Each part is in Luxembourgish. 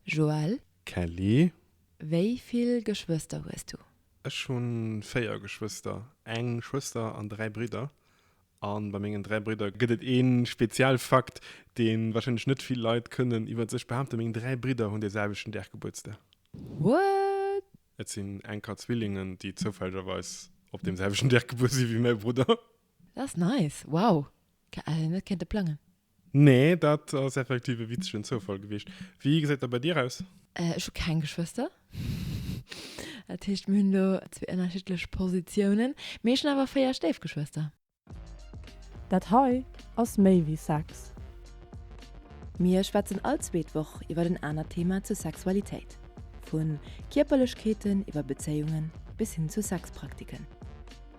Joël. Kelly. Wéi vill Geschwëster hues du? Ech hu véier Geschwëster, eng Schwëster an dräi Bridder. A bei mengen dräi Bridder gëtt et ee speziell Fakt, dee warscheinlech net vill Leit kënnen iwwer sech behaapten, Meng dräi Bridder hunn dee selwechten Dag Gebuertsdag. What? Et sinn enker Zwillingen, déi zoufällegerweis op deem selwechten Dag gebuer si wéi mäi Brudder. Dat ass nice! Wow, hätt een net kéinte plangen. Nee, dat ass effektiv e witzegen Zoufall gewiescht. Wéi gesäit dat bei dir aus? Ech hu keng Geschwëster. Dat heescht, mir hunn do zwee ënnerschiddlech Positiounen. Mee ech hunn awer véier Stéifgeschwëster. Dat hei ass méi wéi Sex. Mir schwätzen all zweet Woch iwwer en anert Thema zur Sexualitéit. Vu Kierperlechkeeten iwwer Bezéiungen bis hin zu Sexpraktiken.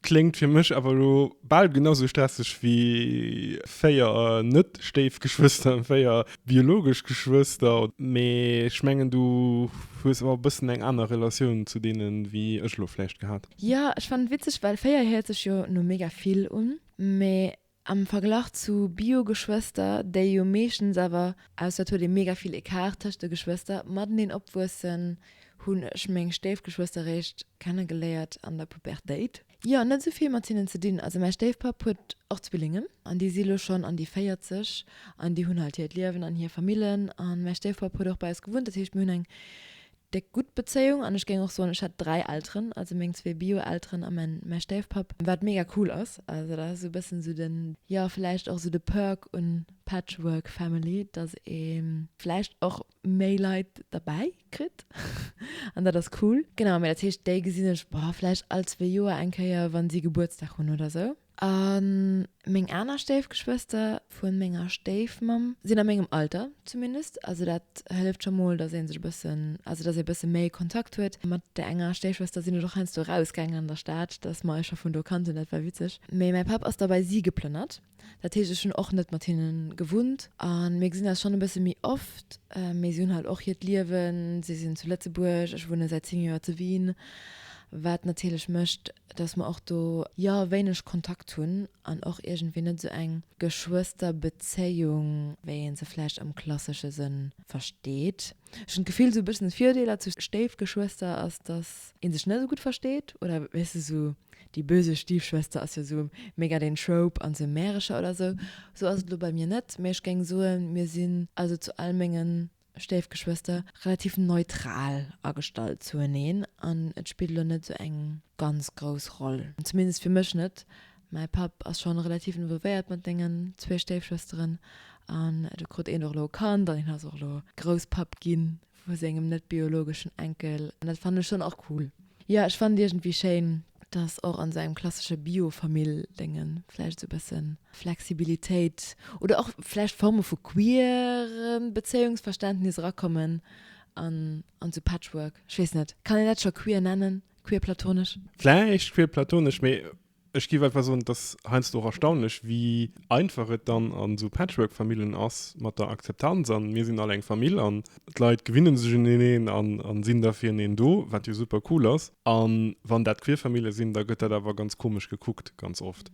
Kléngt fir mech awer elo bal genau sou stresseg wéi 4 net-Stéifgeschwëster, 4 biologesch Geschwëster. Mee ech mengen du hues awer e bëssen eng aner Relatioun zu deenen wéi ech elo vläicht gehat. Jo, ech fannen et witzeg, well 4 héiert sech jo no mega vill un, mee Am Verglach zu Bio-Geschwëster, déi jo meeschtens awer, ausser et huet ee mega vill Ecart tëscht de Geschwëster, mateneen opwuessen, hunn ech meng Stéifgeschwëster réischt kenne geléiert an der Pubertéit. Jo, net esou vill mat hinnen ze dinn. Also mäi Stéifpapp huet och Zwillingen an déi si lo schonn an déi 40 an déi hunn halt hiert Liewen an hir Famillen. A mäi Stéifpapp huet och bei eis gewunnt, dat heescht mir hunn eng Déck gutt Bezéiung an ech géing och soen ech hätt 3 Elteren, also meng zwee Bio-Elteren a mäin mäi Stéifpapp, wat mega cool ass. Also dat ass esou e bëssen esou den, jo vläicht och esou de Perk un Patchwork Family, dass ee vläicht och méi Leit derbäi kritt an dat ass cool. Genau, mä dat heescht déi gesinn ech, boah, vläicht all zwee Joer eng Kéier, wann si Gebuertsdag hunn oder esou. A meng aner Stéifgeschwëster vu menger Stéifmamm sinn a mengem Alter zumindest. Also dat hëlleft scho mol, datt ee sech e bëssen, also datt ee e bësse méi Kontakt huet. Mat där enger Stéifschwëster sinn ech och heiansdo erausgaangen an der Stad, datt mer eis scho vun do kannten. Dat war witzeg. Mee mäi Papp ass da bei si geplënnert. Dat heescht, ech hunn och net mat hinne gewunnt a mir gesinn eis schonn e bësse méi oft. Mee si hunn halt och hiert Liewen. Si sinn zu Lëtzebuerg, ech wunne säit zéng Joer zu Wien, wat natierlech mécht, dass mer och do jo wéineg Kontakt hunn an och iergendwéi net esou eng Geschwësterbezéiung, wéi ee se vläicht am klassesche Sënn versteet. Ech hunn d'Gefill, esou e bëssen Virdeeler zu Stéifgeschwëster ass, dass ee sech net esou gutt versteet oder, weess de, esou déi böse Stiefschwester ass jo esou mega den Trope an esou Märecher oder esou. Esou ass et elo bei mir net, mä ech géing soen, mir sinn also zu all mengen Stéifgeschwëster relativ neutral agestallt zueneen an et spillt elo net esou eng ganz grouss Roll, zumindest fir mech net. Mäi Papp ass schonn relativ involvéiert mat mengen zwee Stéifschwësteren an do krut een och elo e Kand an hien ass och elo Grousspapp ginn vu sengem net-biologeschen Enkel an dat fannen ech schonn och cool. Jo ech fannt iergendwéi schéin dass och an sou engem klassesche Bio Familldéngen vläicht sou bessen Flexibilitéit oder och vläicht Forme vu queeren Bezéiungsverständnis erakommen an an sou Patchwork, ech weess net, kann een dat scho queer nennen, queer platonesch? Vläicht queer platonesch mee. Ech giff einfach soen, et ass heiansdo och erstaunlech, wéi einfach et dann an esou Patchwork-Famillen ass mat der Akzeptanz an mir sinn all eng Famill an d'Leit gewinnen sech un eneen an sinn da fir eneen do, wat jo super cool ass. An wann dat queer Famille sinn, da gëtt dat awer ganz komesch gekuckt, ganz oft.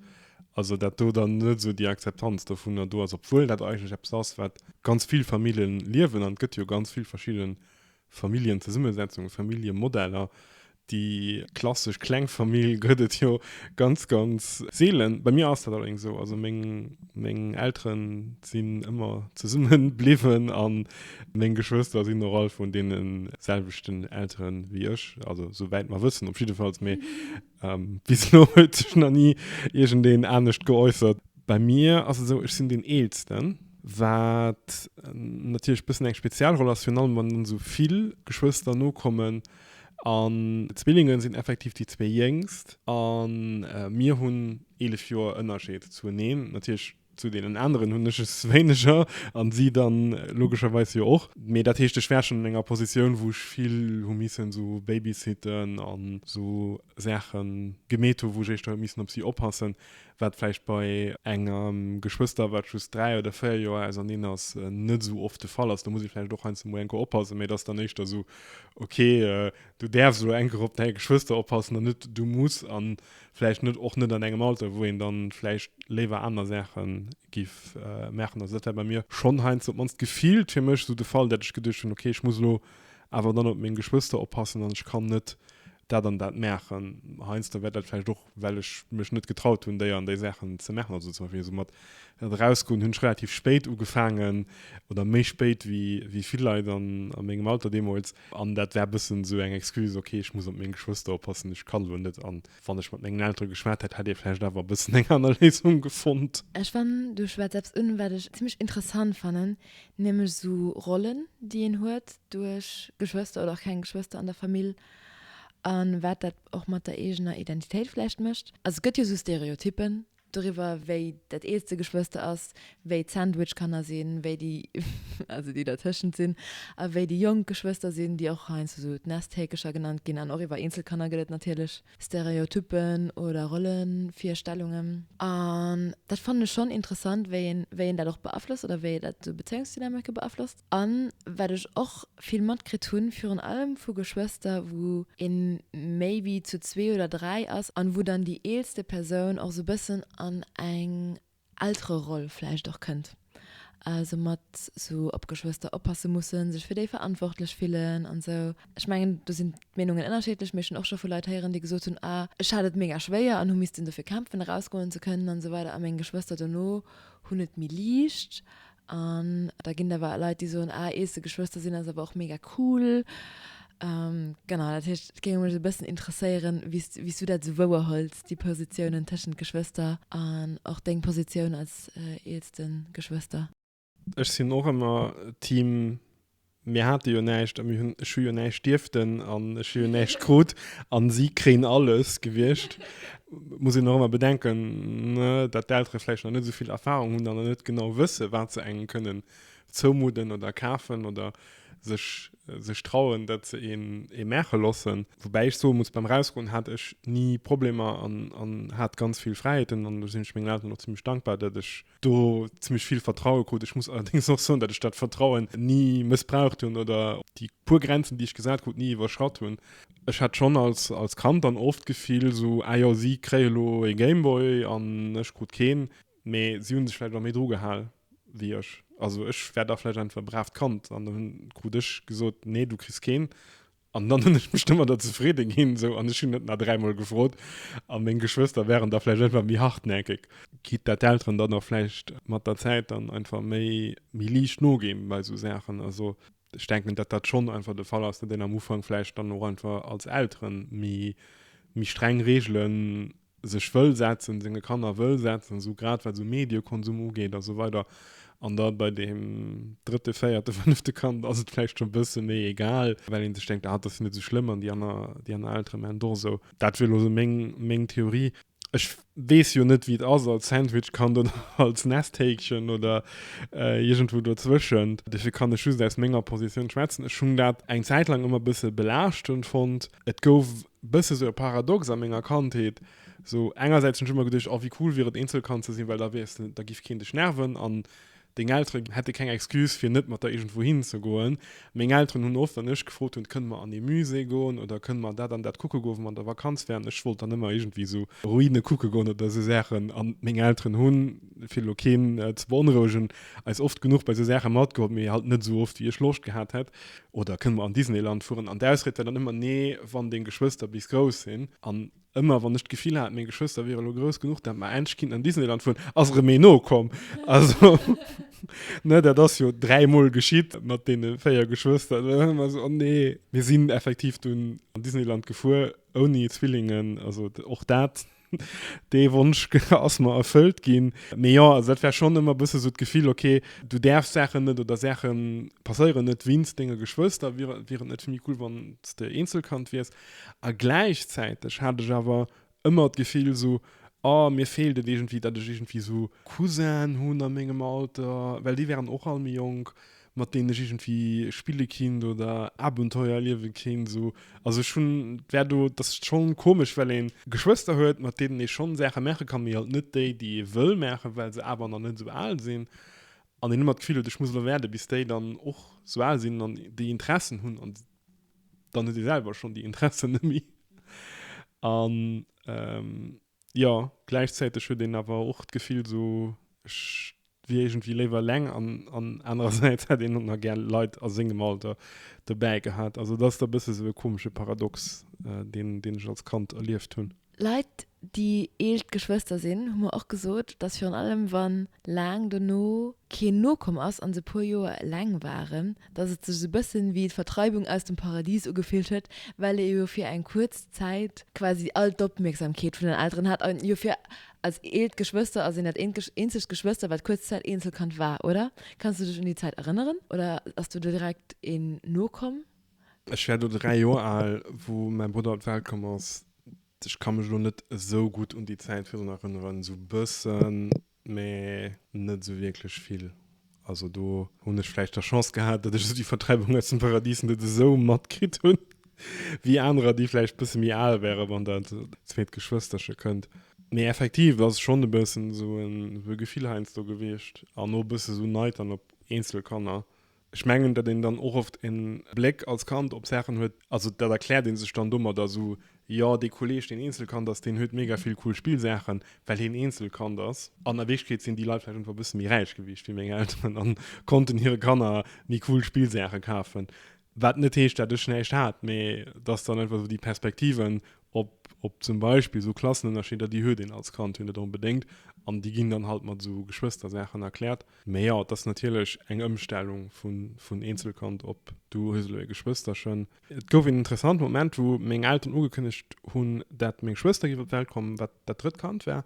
Also dat do dann net esou déi Akzeptanz dovunner do ass, obwuel dat eigentlech eppes ass, wat ganz vill Famillen liewen an et gëtt jo ganz vill verschidden Familljenzesummesetzung, Familljemodeller, déi klassesch Klengfamill gëtt et jo ganz, ganz seelen. Bei mir ass dat allerdéngs esou, also meng, meng Elteren sinn ëmmer zesumme bliwwen a meng Geschwëster sinn och all vun deene selwechten Eltere wéi ech, also souwäit mer wëssen op jiddefalls. Mee Ähm, bis elo huet sech nach ni iergendeen anescht geäussert. Bei mir ass et esou, ech sinn deen Eelsten, wat natierlech e bëssen eng speziell Roll ass, virun allem wann dann esou vill Geschwëster nokommen. An d'Zwillinge sinn effektiv déi zwee Jéngst a mir hunn eelef Joer Ënnerscheed zueneen. Natierlech. Zu deenen aneren hunn ech es wéineger an si dann logescherweis jo och. Mee dat heescht, ech war schonn an enger Positioun, wou ech vill hu missen esou babysitten an esou Saache gemeet hunn, wou ech éischter huet missen op si oppassen, wat vläicht bei engem Geschwëster, wat just dräi oder véier Joer auserneen ass, net esou oft de Fall ass. Do muss ee vläicht och heiansdo mol eng Kéier oppassen, mee et ass dann éischter esou, okay, du däerfs elo eng Kéier op däi Geschwëster oppassen an net du muss. An vläicht net och net an engem Alter, wou een dann vläicht léiwer aner Saachen giff maachen. Also dat war bei mir schonn heiansdo, op d'mannst gefillt fir mech, esou de Fall, dat ech geduecht hunn, okay, ech muss elo awer dann op meng Geschwëster oppassen an ech kann net dat an dat maachen. Heiansdo war dat vläicht och, well ech mech net getraut hunn, déi an déi Saachen ze maachen. Also zum Beispill esou mat erausgoen hunn ech relativ spéit ugefaangen oder méi spéit wéi vill Leit a mengem Alter deemools. An dat war e bëssen esou eng Excuse, ok, ech muss op meng Geschwëster oppassen, ech kann elo net. An wann ech mat mengen Eltere geschwat hätt, hätt ee vläicht awer e bëssen eng aner Léisung gefonnt. Ech fannen, du schwätz eppes un, wat ech zimmlech interessant fannen, nämlech esou Rollen, déi een huet duerch Geschwëster oder och keng Geschwëster an der Famill a wat dat och mat der eegener Identitéit vläicht mécht. Also et gëtt jo esou Stereotyppen, Doriwwer wéi dat eelste Geschwëster ass, wéi d'Sandwich-Kanner sinn, wéi déi, also déi dertëschent sinn, a wéi déi jonk Geschwëster sinn, déi och heiansdo sou d'Nesthäkecher genannt ginn. An och iwwer eenzel Kanner gëtt et natierlech Stereotyppen oder Rollevirstellungen. An dat fannen ech schonn interessant, wéi een dat och beaflosst oder wéi dat sou Bezéiungsdynamike beaflosst. A wat ech och vill matkritt hunn, virun allem vu Geschwëster, wou ee maybe zu zwee oder dräi ass an wou dann déi eelste Persoun och esou e bëssen an eng Eltereroll vläicht och kënnt, esou mat esou op d'Geschwëster oppasse mussen, sech fir déi verantwortlech fillen an esou. Ech mengen, do sinn d'Meenungen ënnerschiddlech, mee ech hunn och scho vu Leit héieren, déi gesot hunn, ah ech hat et mega schwéier an hu missten dofir kämpfen, erausgoen ze kënnen an esou weider a meng Geschwëster dono hunn et méi liicht, An da ginn et awer Leit, déi soen, ah, ees de Geschwëster sinn ass awer och mega cool. Genau, dat heescht, et géing mech e bëssen interesséieren, wéi s, wéi s du dat esou wouerhuels, déi Positiounen tëschent Geschwëster an och deng Positioun als eelste Geschwëster. Ech sinn och ëmmer Team Mir hate jo näischt a mir hunn, ech hu jo näischt dierften an ech hu jo näischt krut a si kréien alles gewiescht. Muss een och ëmmer bedenken, datt d'Eltere vläicht nach net esou vill Erfarung hunn an nach net genau wësse wat se engem kënnen zoumudden oder kafen oder sech sech trauen, dat se een ee maache loossen. Woubäi ech soe muss, beim Erausgoen hat ech ni Problemer an hat ganz vill Fräiheeten an do sinn ech mengen Elteren och zimmlech dankbar, datt ech do zimmlech vill Vertraue krut. Ech muss allerdings och soen, datt ech dat Vertrauen ni mëssbraucht hunn oder déi puer Grenzen, déi ech gesat krut, ni iwwerschratt hunn. Ech hat schonn als, als Kand dann oft d'Gefill esou, ah jo, si kréie lo ee Gameboy an ech krut keen. Mee si hu sech vläicht och méi dru gehal wéi ech. Also ech war da vläicht einfach e bravt Kand an da krut ech gesot, nee, du kriss keen. An dann hunn ech mech domadder zefridde ginn, esou, an ech hunn net nach dräimol gefrot. A meng Geschwëster waren da vläicht einfach méi hartnäckeg. Quitte dat d'Elteren dann och vläicht mat der Zäit dann einfach méi, méi liicht noginn bei esou Saachen. Also ech denken, datt dat schonn einfach de Fall ass, datt een am Ufank vläicht dann och einfach als Elteren méi, méi streng Reegelen. sech wëll setzen, senge Kanner wëll setzen, esou grad wat esou Mediekonsum ugeet a sou weider, an da bei deem drëtte, véierte, fënnefte Kand ass et vläicht scho bësse méi egal, well ee sech denkt, ah, et ass jo net esou schlëmm an déi aner, déi aner Eltere maachen et och esou. Dat wier elo esou meng, meng Theorie. Ech weess jo net, wéi et ass als Sandwich-Kand oder als Nesthäkchen oder iergendwou dozwëschent, dofir kann ech just aus menger Positioun schwätzen. Ech hunn dat eng Zäit laang ëmmer e bësse belaaschtend fonnt. Et gouf Bësse sou e Paradox a menger Kandheet. Sou engersäits hunn ech ëmmer geduecht, oh wéi cool wier et Eenzelkand ze sinn, well da wiers de, da giff keen dech nerven an deng Eltere hätte keng Excuse fir net mat der iergendwou hin ze goen. Meng Elteren hunn oft, wann ech gefrot hunn, kënne mer an ee Musée goen oder kënne mer dat an dat kucke goen, wou mer an der Vakanz wären, ech wollt dann ëmmer iergendwéi sou Ruine kucke goen oder sou Saachen an meng Elteren hunn, fir elo keen ze beonrouegen, eis oft genuch bei sou Saache matgeholl, mee halt net sou oft wéi ech Loscht gehat hätt. Oder kënne mer an Disneyland fueren? An d'Ausried war dann ëmmer, Nee, wann deng Geschwëster bis grouss sinn. An ëmmer wann ech d'Gefill hat, meng Geschwëster wiere lo grouss genuch, dat mer endlech kinnten an Disneyland fueren, ass erëm ee no komm. Also, ne, dat ass jo dräi Mol geschitt mat deene véier Geschwëster. An dunn ëmmer esou, Oh nee. Mir sinn effektiv dunn an Disneyland gefuer ouni Zwillingen. Also och dat. Dee Wonsch ass mer erfëllt ginn. Mee jo, also dat war schonn ëmmer e bësse sou d'Gefill, okay, du däerfs Saachen net oder Saache passéieren net weinst denge Geschwëster, wier et net vill méi cool, wann s de Eenzelkand wiers? A gläichzäiteg hat ech awer ëmmer d'Gefill sou, oh, mir feelt et iergendwéi, datt ech iergendwéi sou Cousinen hunn a mengem Alter, well déi waren och all méi jonk. mat denen ech irgendwie spille kinnt oder Abenteuer erliewe kinnt so, also ech hunn wär do, dass et schon komesch well een Geschwëster huet mat denen ee schon Saache maache kann, mee halt net déi déi ee wëll maachen, well se awer nach net esou al sinn an een ëmmer d'Gefill huet ech muss elo waarde bis déi dann och esou al sinn an déi Interessen hunn an dann huet ee selwer schon déi Interessen net méi an Jo, gläichzäiteg huet een awer och d'Gefill sou, ech wier iergendwéi léiwer eleng an an anerersäits hätt een och nach gär Leit a sengem Alter dobäi gehat. Also et ass da e bësse sou e komesche Paradox, deen deen ech als Kand erlieft hunn. Leit, déi eellt Geschwëster sinn, hu mer och gesot, datt virun allem wann laang dono keen nokomm ass an se e puer Joer eleng waren, dass et sech esou bëssen wéi d'Vertreibung aus dem Paradies ugefillt huet, well ee jo fir eng kuerz Zäit quasi all d'Opmierksamkeet vun den Elteren hat, an jo fir als eent Geschwëster ass een dat eenzegt Geschwëster wat kuerz Zäit Eenzelkand war, oder? Kanns du dech un déi Zäit erënneren? Oder ass do direkt een nokomm? Ech war do 3 Joer al wou mäi Brudder op d'Welt komm ass. Ech ka mech elo net esou gutt un déi Zäit virun erënneren, esou bëssen. Mee net esou wierklech vill. Also do hunn ech vläicht der Chance gehat, datt ech esou déi Vertreibung aus dem Paradis net esou matkritt hunn, wéi anerer, déi vläicht e bësse méi al wären, wann dat zweet Geschwësterche kënnt. Mee effektiv ass schonn e bëssen esou e Gefill heiansdo gewiescht an och e bësse esou Neid dann op eenzel Kanner, Ech mengen, datt een dann och oft e Bléck als Kand op Saachen huet, also dat erkläert ee sech dann domadder esou, jo, dee Kolleeg, deen Eenzelkand ass, deen huet mega vill cool Spillsaachen, well hien Eenzelkand ass. An a Wierklechkeet sinn déi Leit vläicht einfach e bësse méi räich gewiescht wéi meng Elteren a konnten hire Kanner méi cool Spillsaache kafen. Wat net heescht, datt ech näischt hat, mee datt dann einfach esou déi Perspektiven op zum Beispill esou Klassenënnerscheeder, déi huet een als Kand jo net onbedéngt an déi ginn dann halt mat esou Geschwëstersaachen erkläert. Mee jo, et ass natierlech eng Ëmstellung vun Eenzelkand op du hues elo e Geschwësterchen. Et gouf een interessanten Moment, wou meng Elteren ugekënnegt hunn, dat meng Schwëster géif op d'Welt kommen, wat dat drëtt Kand war,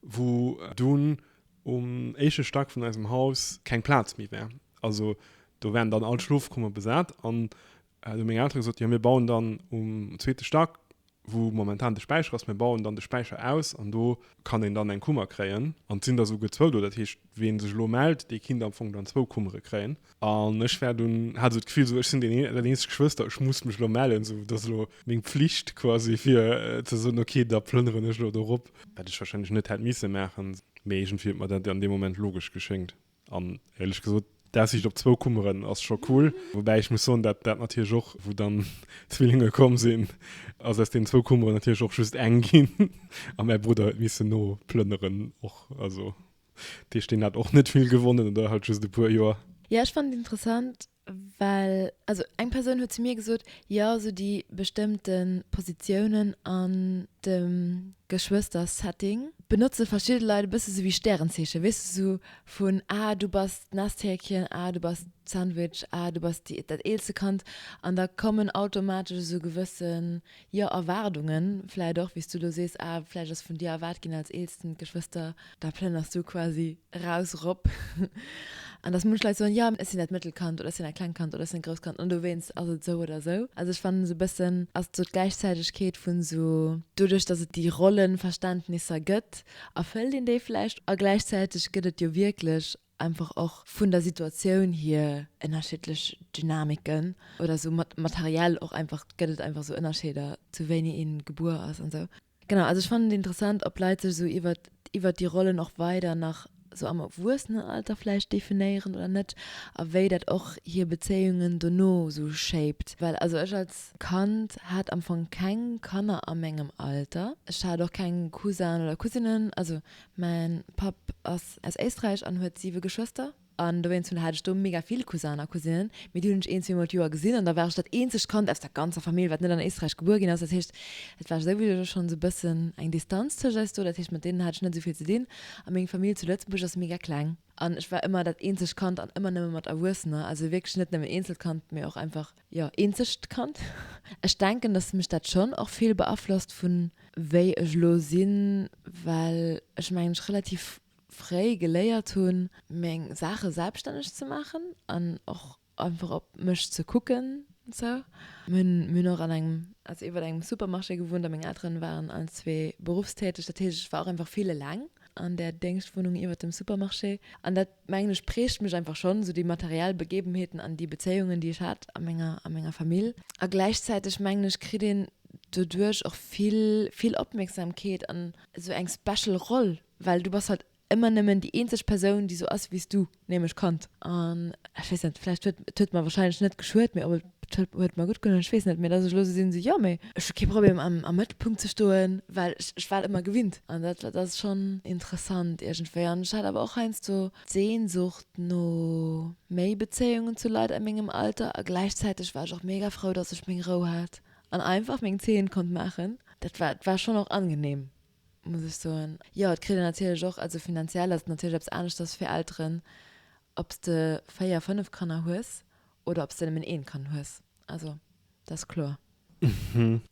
wou dunn um éischte Stack vun eisem Haus keng Plaz méi war. Also do waren dann all d'Schlofkummer besat an Hun meng Elteren gesot, jo mir bauen dann um zweete Stack wou momentan de Späicher ass, mir bauen dann de Späicher aus an do kann een dann eng Kummer kréien an et sinn der souguer zwou do. Dat heescht ween sech elo mellt, dee kinnt am Fong dann zwou Kummere kréien an ech war dunn, hat esou d'Gefill esou ech sinn deen dat eenzegt Geschwëster, ech muss mech elo mellen, esou et ass elo meng Pflicht quasi fir ze soen okay da plënneren ech elo dorop. Wat ech wahrscheinlech net hätt misse maachen, mee iergendwéi huet mer dat an deem Moment logesch geschéngt. An éierlech gesot, d'Aussiicht op zwou Kummeren ass scho cool. Woubäi ech muss soen, dat dat natierlech och, wou dann d'Zwillinge komm sinn, ass aus deenen zwou Kummeren natierlech och just eng ginn a mäi Brudder huet missen noplënneren och. Also deesch deen hat och net vill gewonnen oder halt just e puer Joer. Jo, ech fannen et interessant. Well, also eng Persoun huet zu mir gesot, jo sou déi bestëmmte Positiounen an dem Geschwëstersetting benotze verschidde Leit e bësse sou wéi Stärenzeechen, weess de, sou vun, ah du bass d'Nesthäkchen, ah du bass d'Sandwich, ah du bass déi, dat eelste Kand. An da kommen automatesch esou gewësse Jo, Erwaardungen vläicht och, wéi s du elo sees, ah, vläicht ass vun dir erwaart ginn als eelsten Geschwëster, da plënners du quasi raus, rop. An dass munch Leit soen, jo, ech sinn dat mëttel Kand oder ech sinn dat kleng Kand oder ech sinn dat grousst Kand an dowéinst ass et esou oder esou. Also ech fannen, esou e bëssen ass et esou d'Gläichzäitegkeet vun esou, doduerch dass et déi Rollenverständnisser gëtt, erfëllt een déi vläicht a gläichzäiteg gëtt et jo wierklech einfach och vun der Situatioun hier ënnerschiddlech Dynamiken oder esou mat materiell och einfach gëtt et einfach esou Ënnerscheeder zu wéini ee gebuer ass an esou. Genau, also ech fannen et interessant ob Leit sech esou iwwert iwwert déi Rollen och weider nach esou am Erwuessenenalter vläicht definéieren oder net a wéi dat och hier Bezéiungen dono esou shaped, well also ech als Kand hat am Fong keng Kanner a mengem Alter, ech hat och keng Cousin oder Cousinen, also Mäin Papp ass aus Éisträich an huet 7 Geschwëster. An dowéinst hun hat ech do mega vill Cousinnen a Cousinen, mee déi hun ech een, zwee mol d'Joer gesinn. An da war ech dat eenzegt Kand aus der ganzer Famill, wat net an Éisträich gebuer ginn ass. Dat heescht, et war souwisou schon sou bëssen eng Distanz tëscht eis do. Dat heescht, mat deenen hat ech net sou vill ze dinn. A meng Famill zu Lëtzebuerg ass mega kleng. An ech war ëmmer dat eenzegt Kand an ëmmer nëmme mat Erwuessener. Also wierklech net nëmmen Eenzelkand, mee och einfach Jo, eenzegt Kand. Ech denken, dass mech dat schonn och vill beaflosst vun wéi ech elo sinn, well ech mengen ech relativ fréi geléiert hunn meng Saache selbststänneg ze maachen an och einfach op mech ze kucken sou. Mir hunn mir hunn och an engem, also iwwer engem Supermarché gewunnt a meng Elteren waren allen zwee berufstäteg, dat heescht ech war och einfach vill eleng an där Déngschtwunnung iwwer dem Supermarché an dat, mengen ech prägt mech einfach schonn esou déi materiell Begebenheeten an déi Bezéiungen déi ech hat a menger a menger Famill. A gläichzäiteg mengen ech kritt een doduerch och vill vill Opmierksamkeet an esou eng special Roll, well du bass halt ëmmer nëmmen déi eenzeg Persoun déi esou ass wéi s du, nämlech Kand. An ech weess net, vläicht huet et huet mer wahrscheinlech net geschuet, mee op e. D'Schëld huet mer gutt gedoen. Ech weess net méi, dass ech elo esou sinn, esou, jo, mee ech hu kee Problem am Mëttelpunkt ze stoen, well ech war et ëmmer gewinnt. An dat dat ass schonn interessant iergendwéi. An ech hat awer och heiansdo d'Sehnsucht no méi Bezéiungen zu Leit a mengem Alter. A gläichzäiteg war ech och mega frou, dass ech meng Rou hat an einfach meng Zeen konnt maachen. Dat war, war schonn och angenehm. muss ech soen. Jo, et kritt een natierlech och, also finanziell ass et natierlech eppes aneschters fir Elteren, ob s de véier, fënnef Kanner hues oder ob s de nëmmen eent Kand hues. Also dat ass kloer.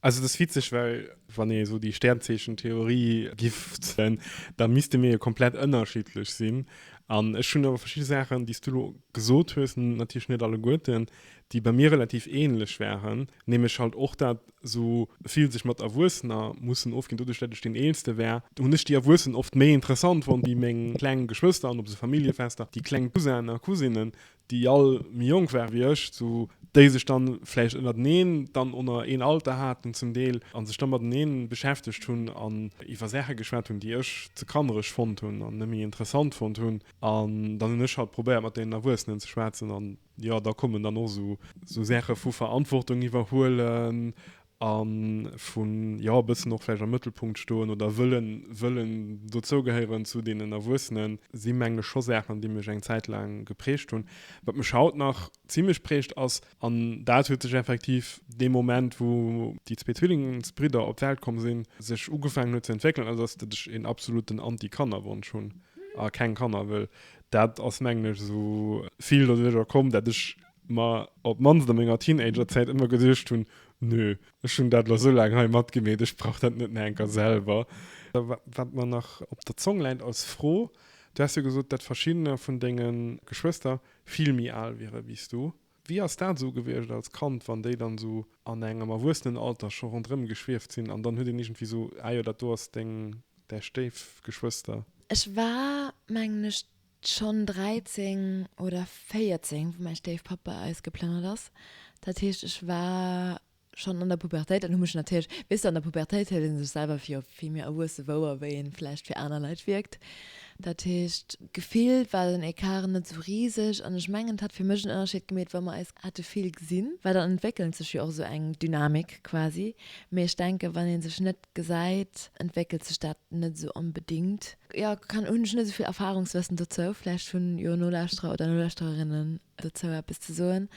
Also dat ass witzeg, well wann ee esou déi Sternzeechentheorie giff den, da misste mir jo komplett ënnerschiddlech sinn. An ech hunn awer verschidde Saachen, déi s du elo gesot hues, natierlech net alleguerten, déi bei mir relativ ähnlech waren. Neem ech halt och dat sou vill sech mat Erwuessener mussen ofginn. Doduerch dat ech deen eelste wär, hunn ech déi Erwuessen oft méi interessant fonnt wéi meng kleng Geschwëster. An op sou Familljefester, déi kleng Cousinen a Cousinen, déi all méi jonk waren wéi ech, sou déi sech dann vläicht ënnerteneen dann onner een Alter haten zum Deel a sech dann mateneen beschäftegt hunn an iwwer Saache geschwat hunn, déi ech ze kannereg fonnt hunn an net méi interessant fonnt hunn. An dann hunn ech halt probéiert mat deenen Erwuessenen ze schwätzen an Jo, da kommen dann och esou Saache vu Verantwortung iwwerhuelen a vu, jo, e bëssen och vläicht am Mëttelpunkt stoen oder wëllen, wëllen dozougehéieren zu deenen Erwuessenen, si meng ech scho Saachen, déi mech eng Zäit laang geprägt hunn. Wat mech haut nach zimmlech prägt ass, an dat huet sech effektiv dee Moment, wou déi zwee Zwillingsbridder op d'Welt komm sinn, sech ugefaangen huet ze entwéckelen, ass, datt ech een absoluten Anti-Kannerwonsch hunn a keng Kanner wëll. Dat ass mengen ech esou vill doduerch och komm, dat ech mer op d'mannst a menger Teenagerzäit ëmmer geduecht hunn, Nö, ech hunn dat elo esou laang hei matgemeet, ech brauch dat net nach eng Kéier selwer. Wat mer nach op der Zong läit als Fro, Du has jo gesot, dat verschiddene vun denge Geschwëster vill méi al wiere wéi s du. Wéi ass dat esou gewiescht als Kand, wann déi dann esou an engem Erwuessenenalter scho ronderëm geschwieft sinn an dann huet een iergendwéi esou, ah jo, dat do ass deng, däi Stéifgeschwëster? Ech war, mengen ech, schonn 13 oder 14, wou mäi Stéifpapp bei eis geplënnert ass. Dat heescht, ech war Schonn an der Pubertéit, an hu mech natierlech, weess de, an der Pubertéit huet ee sech selwer fir vill méi erwuesse wouer, wéi ee vläicht fir aner Leit wierkt. Dat heescht, gefillt war den Ecart net esou riseg. An ech mengen, et hätt fir mech en Ënnerscheed gemeet, wa mer eis hätte vill gesinn, well dann entwéckelt sech jo och esou eng Dynamik quasi. Mee ech denken, wann ee sech net gesäit, entwéckelt sech dat net esou onbedéngt. Jo, kann, hunn ech net esou vill Erfahrungswëssen dozou. Vläicht hunn jo Nolauschterer oder Nolauschtererinnen dozou eppes ze soen,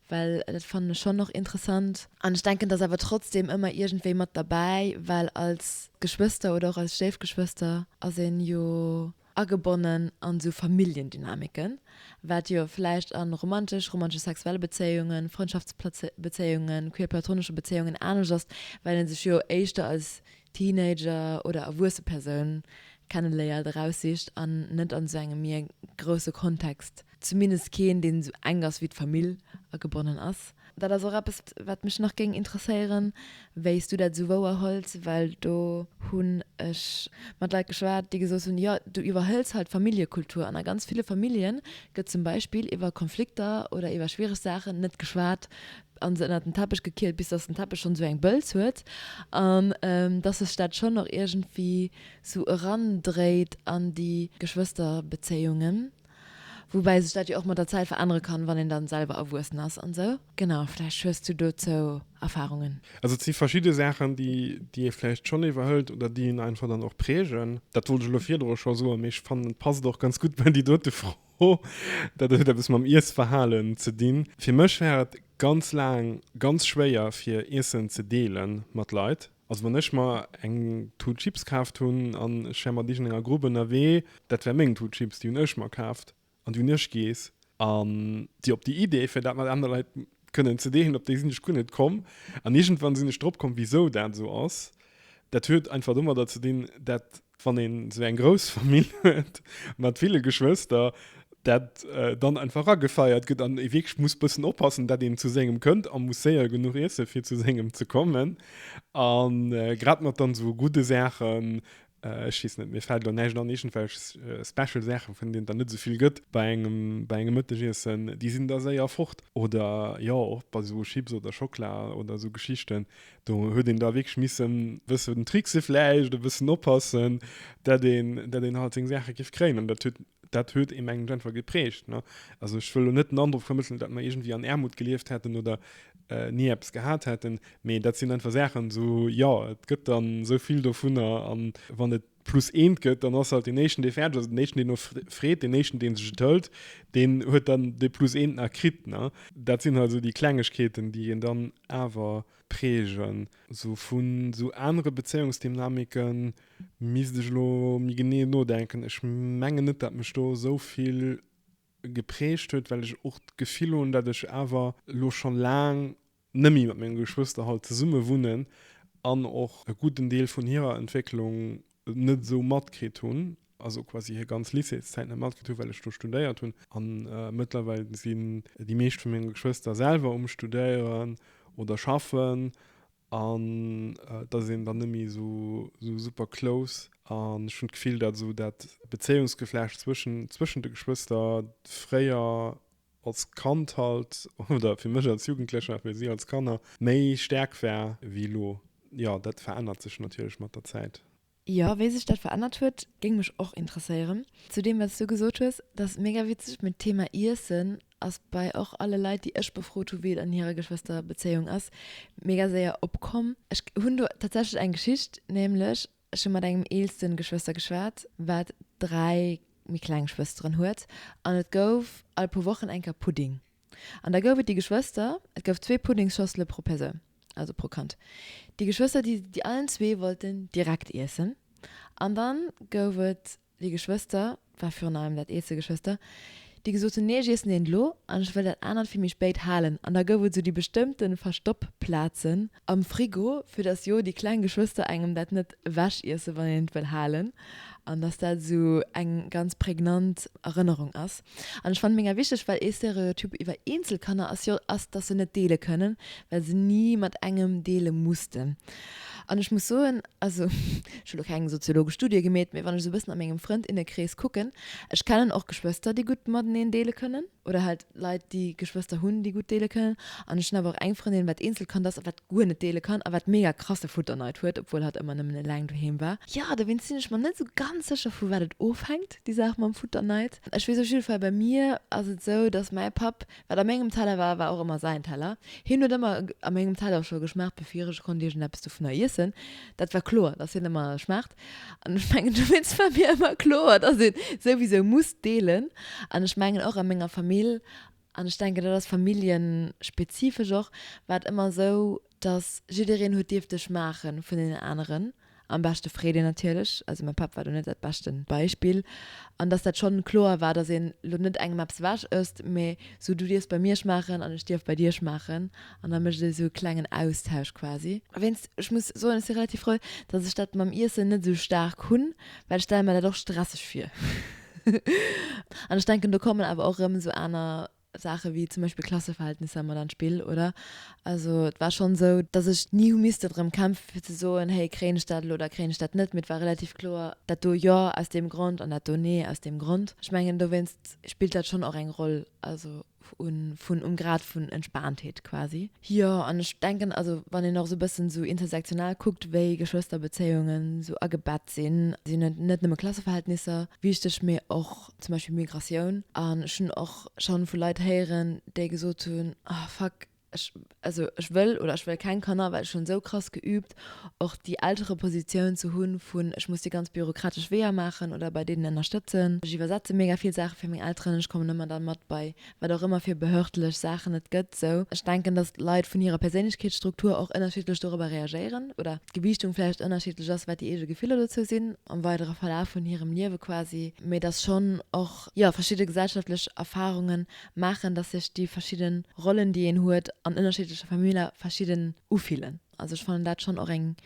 well dat fannen ech schonn och interessant. An ech denken, dass awer trotzdem ëmmer iergendwéi mat derbäi, well als Geschwëster oder och als Stéifgeschwëster ass een jo agebonnen an esou Familljendynamiken, wat jo vläicht an romantesch, romantesch-sexuelle Bezéiungen, Frëndschaftsbezéiungen, queer-platonesche Bezéiungen anescht ass, well een sech jo éischter als Teenager oder erwuesse Persoun kenneléiert, eraussicht an net an esou engem mier grousse Kontext Zumindest keen, deen esou enk ass wéi d'Famill a gebonnen ass. Dat ass och eppes, wat mech nach géing interesséieren, wéi s du dat esou wouerhëls, well do hunn ech mat Leit geschwat, déi gesot hunn, jo, du iwwerhëls halt d'Familljekultur an a ganz ville Famillje gëtt zum Beispill iwwer Konflikter oder iwwer schwiereg Saachen net geschwat a se ënnert den Teppech gekiert, bis datt den Teppech schonn esou eng Bëlz huet an datt sech dat schonn och iergendwéi esou erandréit an déi Geschwësterbezéiungen. Woubäi sech dat jo och mat der Zäit verännere kann, wann een dann selwer erwuessen ass an sou. Genau, vläicht hues du dozou Erfahrungen? Also et si verschidde Saachen, déi ee vläicht schonn iwwerhëlt oder déi een einfach dann och prägen. Dat wollt ech elo virdru scho soen, mee ech fannen et passt och ganz gutt bei déi dote Fro. Dat huet eppes mam Iessverhalen ze dinn. Fir mech war et ganz laang ganz schwéier fir Iessen ze deele mat Leit. Also wann ech mer eng Tut Chips kaaft hunn an ech wär mat iergendenger Grupp ënnerwee, dat wär meng Tut Chips, déi hunn ech mer kaaft an déi hunn ech giess. An déi op déi Idee, fir dat mat aner Leit kënnen ze deelen, op déi sinn ech guer net komm. An iergendwann sinn ech drop komm, wisou dat esou ass. Dat huet einfach domadder ze dinn, dat Wann een sou eng grouss Famill huet mat ville Geschwëster, dat dann einfach agefeiert gëtt an ee wierklech muss bëssen oppassen, dat een zu sengem kënnt a muss séier genuch iesse fir zu sengem ze kommen. A grad mat dann sou gudde Saachen, ech weess net, mir fält elo näischt an, iergendwelch special Saachen, vun deenen et der net esou vill gëtt bei engem, bei engem Mëttegiessen, déi sinn da séier fort. Oder jo, och bei sou Chips oder Schockla oder sou Geschichten, Do huet een da wierklech misse wëssen, trickse vläicht, e bëssen oppassen, datt een, datt een halt seng Saache géif kréien. An dat huet, dat huet ee mengem einfach geprägt. Ne? Also ech wëll lo net den Androck vermëttelen, datt mer iergendwéi an Aarmut gelieft hätten oder äh, ni eppes gehat hätten, mee dat sinn einfach Saachen, esou, jo, et gëtt dann esou vill dovunner an wann et plus eent gëtt, dann ass halt deen éischten, dee fäerdeg ass, deen éischten, deen no freet, deen éischten, dee sech et hëlt, deen huet dann dee plus eent nach kritt. Ne? Dat sinn halt esou déi Klengegkeeten, déi een dann awer prägen. Sou vun esou anere Bezéiungsdynamike misst ech elo méi genee nodenken. Ech mengen net, dat mech do esou vill geprägt huet, well ech och d'Gefill hunn, dat ech awer elo scho laang Nemme mat menge Geschwëster halt zesumme wunnen an och e gudden Deel vun hirer Entwécklung net esou matkritt hunn, also quasi hir ganz Lycéeszäit net matkritt hunn, well ech do studéiert hunn. A mëttlerweil sinn déi meescht vu menge Geschwëster selwer um Studéieren oder schaffen an et ass een dann net méi esou super close. An ech hunn d'Gefill, datt esou dat Bezéiungsgeflecht zwëschen de Geschwëster fréier als Kand halt, oder fir mech als Jugendlecher, fir si als Kanner, méi staark war wéi elo. Jo, dat verännert sech natierlech mat der Zäit. Jo, wéi sech dat verännert huet, géing mech och interesséieren. Zu deem, wat s du gesot hues, dat ass mega witzeg, mee d'Thema Iessen ass bei och alle Leit, déi ech befrot hu, wéi et an hirer Geschwësterbezéiung ass, mega séier opkomm. Ech hunn do tatsächlech eng Geschicht, nämlech, Ech hu mat engem eelsten Geschwëster geschwat, wat dräi méi kleng Schwësteren huet, an et gouf all puer Wochen eng Kéier Pudding. An da gouf et déi Geschwëster, et gouf zwee Puddingsschossele pro Persoun, also pro Kand, déi Geschwëster, déi se déi allen zwee wollten direkt iessen. An da gouf et Déi Geschwëster, 't war virun allem dat eelste Geschwëster, déi gesot hunn, Nee, ech iessen deen elo an ech wëll dat anert fir méi spéit halen. An da gouf et esou déi bestëmmte Verstoppplazen am Frigo, fir dass jo déi kleng Geschwëster engem dat net ewechiessen, wann een et wëll halen. An dass dat esou eng ganz prägnant Erënnerung ass. An ech fannen ménger wichteg, well ee Stereotyp iwwer eenzel Kanner ass jo, ass dass se net deele kënnen, well se ni mat engem deele mussten. An ech muss soen, also ech hu lo keng soziologesch Studie gemeet, mee wann ech esou e bëssen a mengem Frënd, Innekrees kucken, ech kennen och Geschwëster déi gutt mateneen deele kënnen oder halt Leit déi Geschwëster hunn déi gutt deele kënnen an ech hunn awer och eng Frëndin wat Eenzelkand ass a wat guer net deele kann a wat mega krasse Futterneid huet, obwuel hatt ëmmer nëmmen eleng doheem war. Jo, dowéinst sinn ech mer net esou ganz sécher, vu wat et ofhänkt, déi Saach mam Futterneid. Ech weess op jidde Fall, bei mir ass et esou, dass mäi Papp, wat a mengem Teller war, war och ëmmer säin Teller. Hien huet ëmmer a mengem Teller scho geschmaacht, bevir ech konnt iergendeppes dovunner iessen. Dat war kloer, dass hien ëmmer schmaacht. An ech mengen, dowéinst war mir ëmmer kloer, dass ee souwisou muss deelen. An ech mengen, och a menger Famill An ech denken, dat ass familljespezifesch och, war et ëmmer esou, datt jiddereen huet dierft dech maache vun deenen aneren, am beschte Freedin natierlech, also mäi Papp war do net dat beschte Beispill, an datt dat schonn kloer war, datt een elo net engem eppes ewech ësst, mä esou du dierfs bei mir schmaachen an ech dierf bei dir schmaachen an da mécht et esou e klengen Austausch quasi. Wéinst ech muss soen, ech si relativ frou, datt ech dat mam Iessen net esou staark hunn, well ech stelle mer dat och stresseg vir. An ech denken, do kommen awer och erëm esou aner Saache wéi zum Beispill Klasseverhältnisser mat an d'Spill, oder? Also et war schonn esou, datt ech ni hu misste drëm kämpfen, fir ze soen, héi kréien ech dat elo oder kréien ech dat net, mee et war relativ kloer, dat do jo aus deem Grond an dat do nee aus deem Grond. Ech mengen, dowéinst spillt dat schonn och eng Roll. Also. vun um Grad vun Entspaantheet quasi. Jo, an ech denken, also wann een och esou e bëssen esou intersektional kuckt, wéi Geschwësterbezéiungen esou agebett sinn, sinn et net nëmme Klasseverhältnisser wichteg, mee och zum Beispill Migratioun. An ech hunn och schonn vu Leit héieren, déi gesot hunn, Ah fuck, Ech, also ech wëll, oder ech wëll keng Kanner, well ech hunn esou krass geübt, och déi Elterepositioun ze hunn, vun ech muss déi ganz bürokratesch Weeër maachen oder bei deenen ënnerstëtzen. Ech iwwersetze mega vill Saache fir meng Elteren, ech kommen ëmmer dann mat bei wat och ëmmer fir behördlech Saachen et gëtt. Esou, ech denken, dass d'Leit vun hirer Perséinlechkeetsstruktur och ënnerschiddlech dorobber reagéieren oder d'Gewiichtung vläicht ënnerschiddlech ass, wat déi eege Gefiller dozou sinn am weidere Verlaf vun hirem Liewe quasi. Mee dass schonn och, jo, verschidde gesellschaftlech Erfarungen maachen, dass sech déi verschidden Rollen, déi een huet an ënnerschiddleche Familler, verschidden ufillen. Also ech fannen dat schonn och eng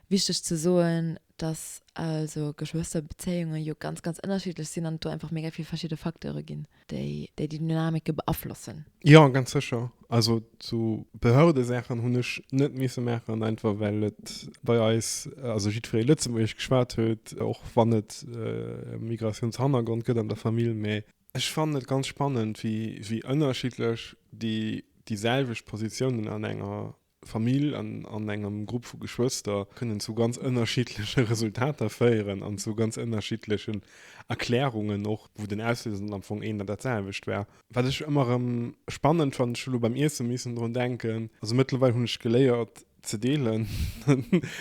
wichteg ze soen, dass also Geschwësterbezéiunge jo ganz, ganz ënnerschiddlech sinn an et do einfach mega vill verschidde Facteure ginn, déi déi Dynamike beaflossen. Jo, ganz sécher. Also sou Behördesaachen hunn ech net misse maachen, einfach well et bei eis, also jiddweree Lëtzebuergesch geschwat huet, och wann et e Migratiounshannergrond gëtt an der Famill, mä Ech fannen et ganz spannend, wéi, wéi ënnerschiddlech déi, déi selwecht Positiounen an enger Famill, an, an engem Grupp vu Geschwëster kënnen zu ganz ënnerschiddleche Resultater féieren an zu ganz ënnerschiddlechen Erklärungen och, wou den Auslöser dann am Fong een an dat selwecht war. Wat ech ëmmer erëm spannend fannen, ech hu lo beim Iesse missen drun denken, also mëttlerweil hunn ech geléiert, Ze deelen.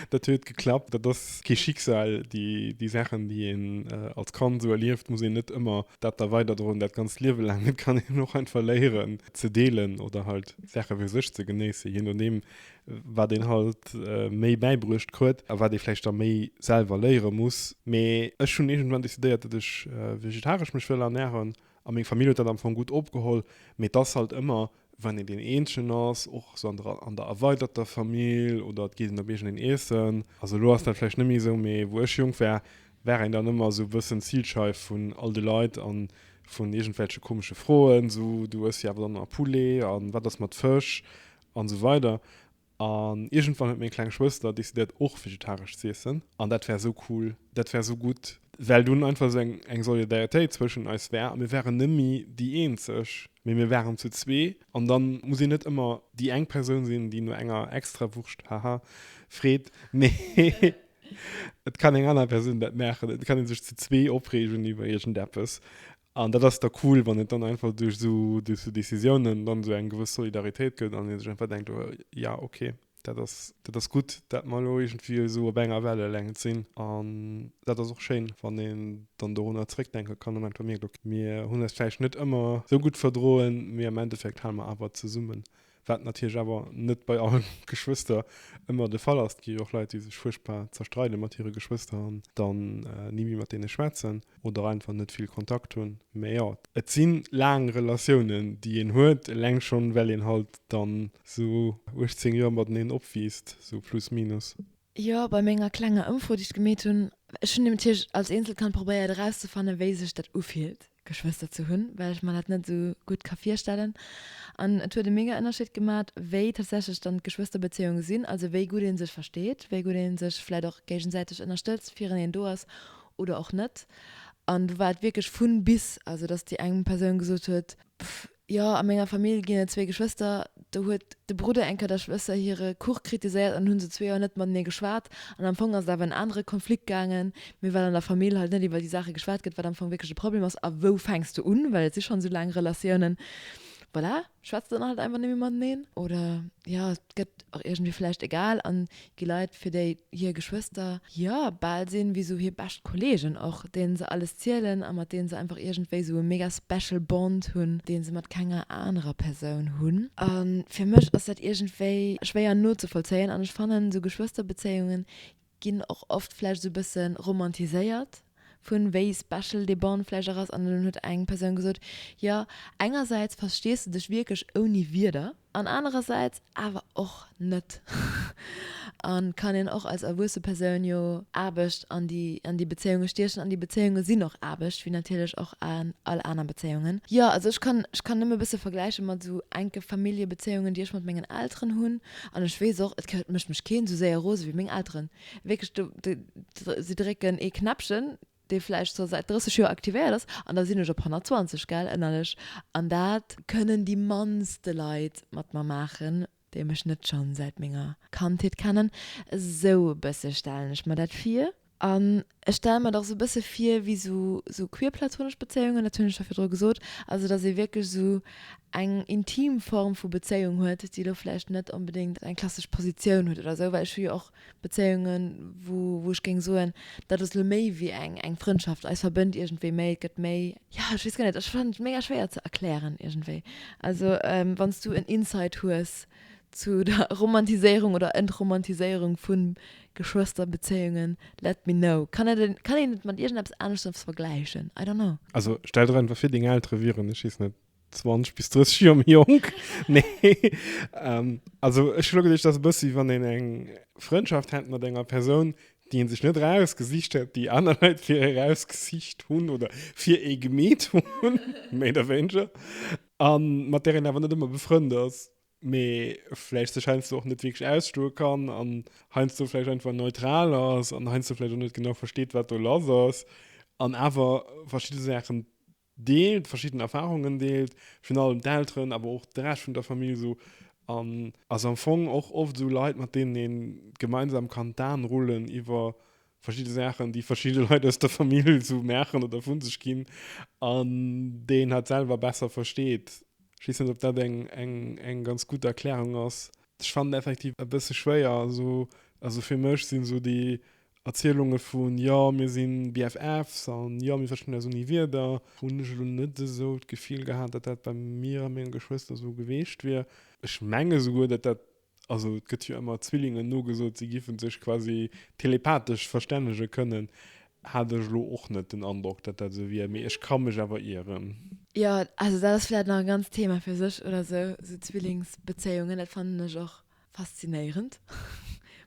Dat huet geklappt. Dat ass kee Schicksal. Déi Saachen, déi een als Kand esou erlieft, muss een net ëmmer dat da weiderdroen dat ganzt Liewe laang. Et kann een och einfach léieren ze deelen oder halt Saache fir sech ze genéissen, jee nodeem wat een halt méi bäibruecht krut a wat ee vläicht da méi selwer léiere muss. Mee ech hunn iergendwann decidéiert, datt ech vegetaresch mech wëll ernären a meng Famill huet dat am Fong gutt opgeholl. Mee et ass halt ëmmer wann een deen Eenzegen ass, och esou an der, an der erweiderter Famill, oder et geet een op iergendeen Iessen, also elo ass dat vläicht net méi esou, mee wou ech jonk war, war een dann ëmmer esou e bëssen d'Zilscheif vun all de Leit a vun iergendwelche komesche Froen, esou, du ëss jo awer dann ëmmer Poulet, a wat ass mat Fësch, an esou weider. An iergendwann huet meng kleng Schwëster decidéiert och vegetaresch ze iessen. An dat war esou cool, dat war esou gutt, well dunn einfach esou eng eng Solidaritéit zwëschen eis war a mir waren nëmmi déi eenzeg, mee mir waren zu zwee. An dann muss een net ëmmer déi eng Persoun sinn, déi no enger Extrawurscht, haha, freet, mee et kann eng aner Persoun dat maachen. Et kann ee sech zu zwee opreegen iwwer iergendeppes An dat ass da cool, wann et dann einfach duerch esou Decisiounen dann esou eng gewëss Solidaritéit gëtt an ee sech einfach denkt, jo okay, dat ass, dat ass gutt, dat mer elo iergendwéi esou op enger Wellelängt sinn. An dat ass och schéin, wann een dann dorunner zeréckdenke kann, am Endeffekt mierkt, ok, mir hunn eis vläicht net ëmmer esou gutt verdroen, mee am Endeffekt hale mer awer zesummen Wat natierlech awer net bei alle Geschwëster ëmmer de Fall ass. Et gi jo och Leit, déi sech fuerchtbar zerstreide mat hire Geschwëster an dann ni méi mat deene schwätzen oder einfach net vill Kontakt hunn. Mä jo, et si laang Relatiounen, déi een huet, eleng schonn, well een halt dann esou 18 Joer mateneen opwiisst, esou plus minus. Jo, bei menger klenger Ëmfro, déi ech gemeet hunn. Ech hunn natierlech als Eenzelkand probéiert erauszefannen, wéi sech dat ufillt, Geschwëster ze hunn, well ech mer dat net esou gutt ka virstellen. An et huet e mega Ënnerscheed gemat, wéi tatsächlech dann d'Geschwësterbezéiunge sinn, also wéi gutt ee sech versteet, wéi gutt ee sech vläicht och géigesäiteg ënnerstëtzt, fireneen do ass oder och net. An do war et wierklech vun bis, also datt déi eng Persoun gesot huet, Jo, a menger Famill ginn et zwee Geschwëster. Do huet de Brudder eng Kéier der Schwëster hire Kuch kritiséiert an hunn se zwee Joer net mat mir geschwat. An am Fong ass et awer en anere Konflikt gaangen, mee well an der Famill halt net iwwer déi Saache geschwat gëtt, wat am Fong wierklech de Problem ass a wou fänks de un, well et si schonn esou laang Relatiounen, voilà, schwätzt een halt einfach net méi mateneen oder jo, et gëtt och iergendwéi vläicht egal. An Gi Leit, fir déi hir Geschwëster jo bal sinn wéi sou hir bescht Kollegen och, deenen se alles zielen a mat deenen se einfach iergendwéi sou e mega special Bond hunn, deen se mat kenger anerer Persoun hunn. A fir mech ass dat iergendwéi schwéier nozevollzéien an ech fannen, sou Geschwësterbezéiunge ginn och oft vläicht sou e bësse romantiséiert. vun wéi special dee Bon vläicht och ass, an dunn huet eng Persoun gesot, jo, engersäits verstees de dech wierklech ouni Wierder, an anerersäits awer och net. Et kann een och als erwuesse Persoun jo Aarbecht an déi an déi Bezéiunge stiechen, an déi Bezéiunge sinn och Aarbecht, wéi natierlech och an all aner Bezéiungen. Jo, also ech kann ech kann nëmme e bësse vergläiche mat esou enke Familljebezéiungen, déi ech mat mengen Elteren hunn, an ech weess och, et mécht mech keen esou séier rose wéi meng Elteren. Wierklech, do, do, si drécken ee Knäppchen, dee vläicht scho säit 30 Joer aktivéiert ass, an da sinn ech op 120, gell, ënnerlech. An dat kënnen déi mannste Leit mat mer maachen, déi mech net schonn säit menger Kandheet kennen. Esou e bësse stellen ech mer dat vir. An Ech stelle mer et och esou e bësse vir wéi sou sou queer platonesch Bezéiungen, dat hunn ech scho virdru gesot, also datt ee wierklech esou eng intim Form vu Bezéiung huet, déi elo vläicht net onbedéngt eng klassesch Positioun huet oder sou, well ech hu jo och Bezéiungen, wou wou ech géing soen, dat ass elo méi wéi eng eng Frëndschaft, eis verbënnt iergendwéi méi, et gëtt méi. Jo, ech weess guer net, ech fannen et mega schwéier ze erklären iergendwéi. Also wann s du en Insight hues, Zu der Romantiséierung oder Entromantiséierung vu Geschwësterbezéiungen, let me know. Kann et en, kann een et mat iergendeppes aneschters vergläichen? I don't know. Also stell der einfach vir, deng Eltere wieren, ech weess net, 20 bis 30 Joer méi jonk. Nee, also ech hu lo geduecht, dass e bëssi wéi wann een eng Frëndschaft hätt mat enger Persoun, déi ee sech net erausgesicht hätt, déi aner Leit fir ee erausgesicht hunn oder fir ee gemeet hunn, méi oder wéineger. A mat där een awer net ëmmer befrënnt ass, mee vläicht sech heiansdo och net wierklech ausstoe kann an heiansdo vläicht einfach neutral ass an heiansdo vläicht och net genau versteet, wat do lass ass an awer verschidde Saachen deelt, verschidden Erfarungen deelt, virun allem d'Elteren, awer och de Rescht vun der Famill esou. An ass am Fong och oft esou Leit, mat deenen ee gemeinsam kann d'Aen rullen iwwer verschidde Saachen, déi verschidde Leit aus der Famill esou maachen oder vu sech ginn, an déi een halt selwer besser versteet. Ech weess net, ob dat eng, eng, eng ganz gutt Erklärung ass. Ech fannen effektiv e bësse schwéier, esou, also fir mech sinn esou déi Erzielunge vun, jo mir si BFFs an jo mir verstinn eis ouni Wierder, hunn ech elo net esou d'Gefill gehat, datt dat bei mir a mengen Geschwëster esou geweecht wier. Ech menge souguer, datt dat Also et gëtt jo ëmmer Zwillingen nogesot, si géife sech quasi telepathesch verstännege kënnen. Hat ech elo och net den Androck, datt dat esou wier, mee ech ka mech awer ieren. Jo, also dat ass vläicht nach e ganzt Thema fir sech oder esou, esou Zwillingsbezéiungen. Dat fannen ech och faszinéierend,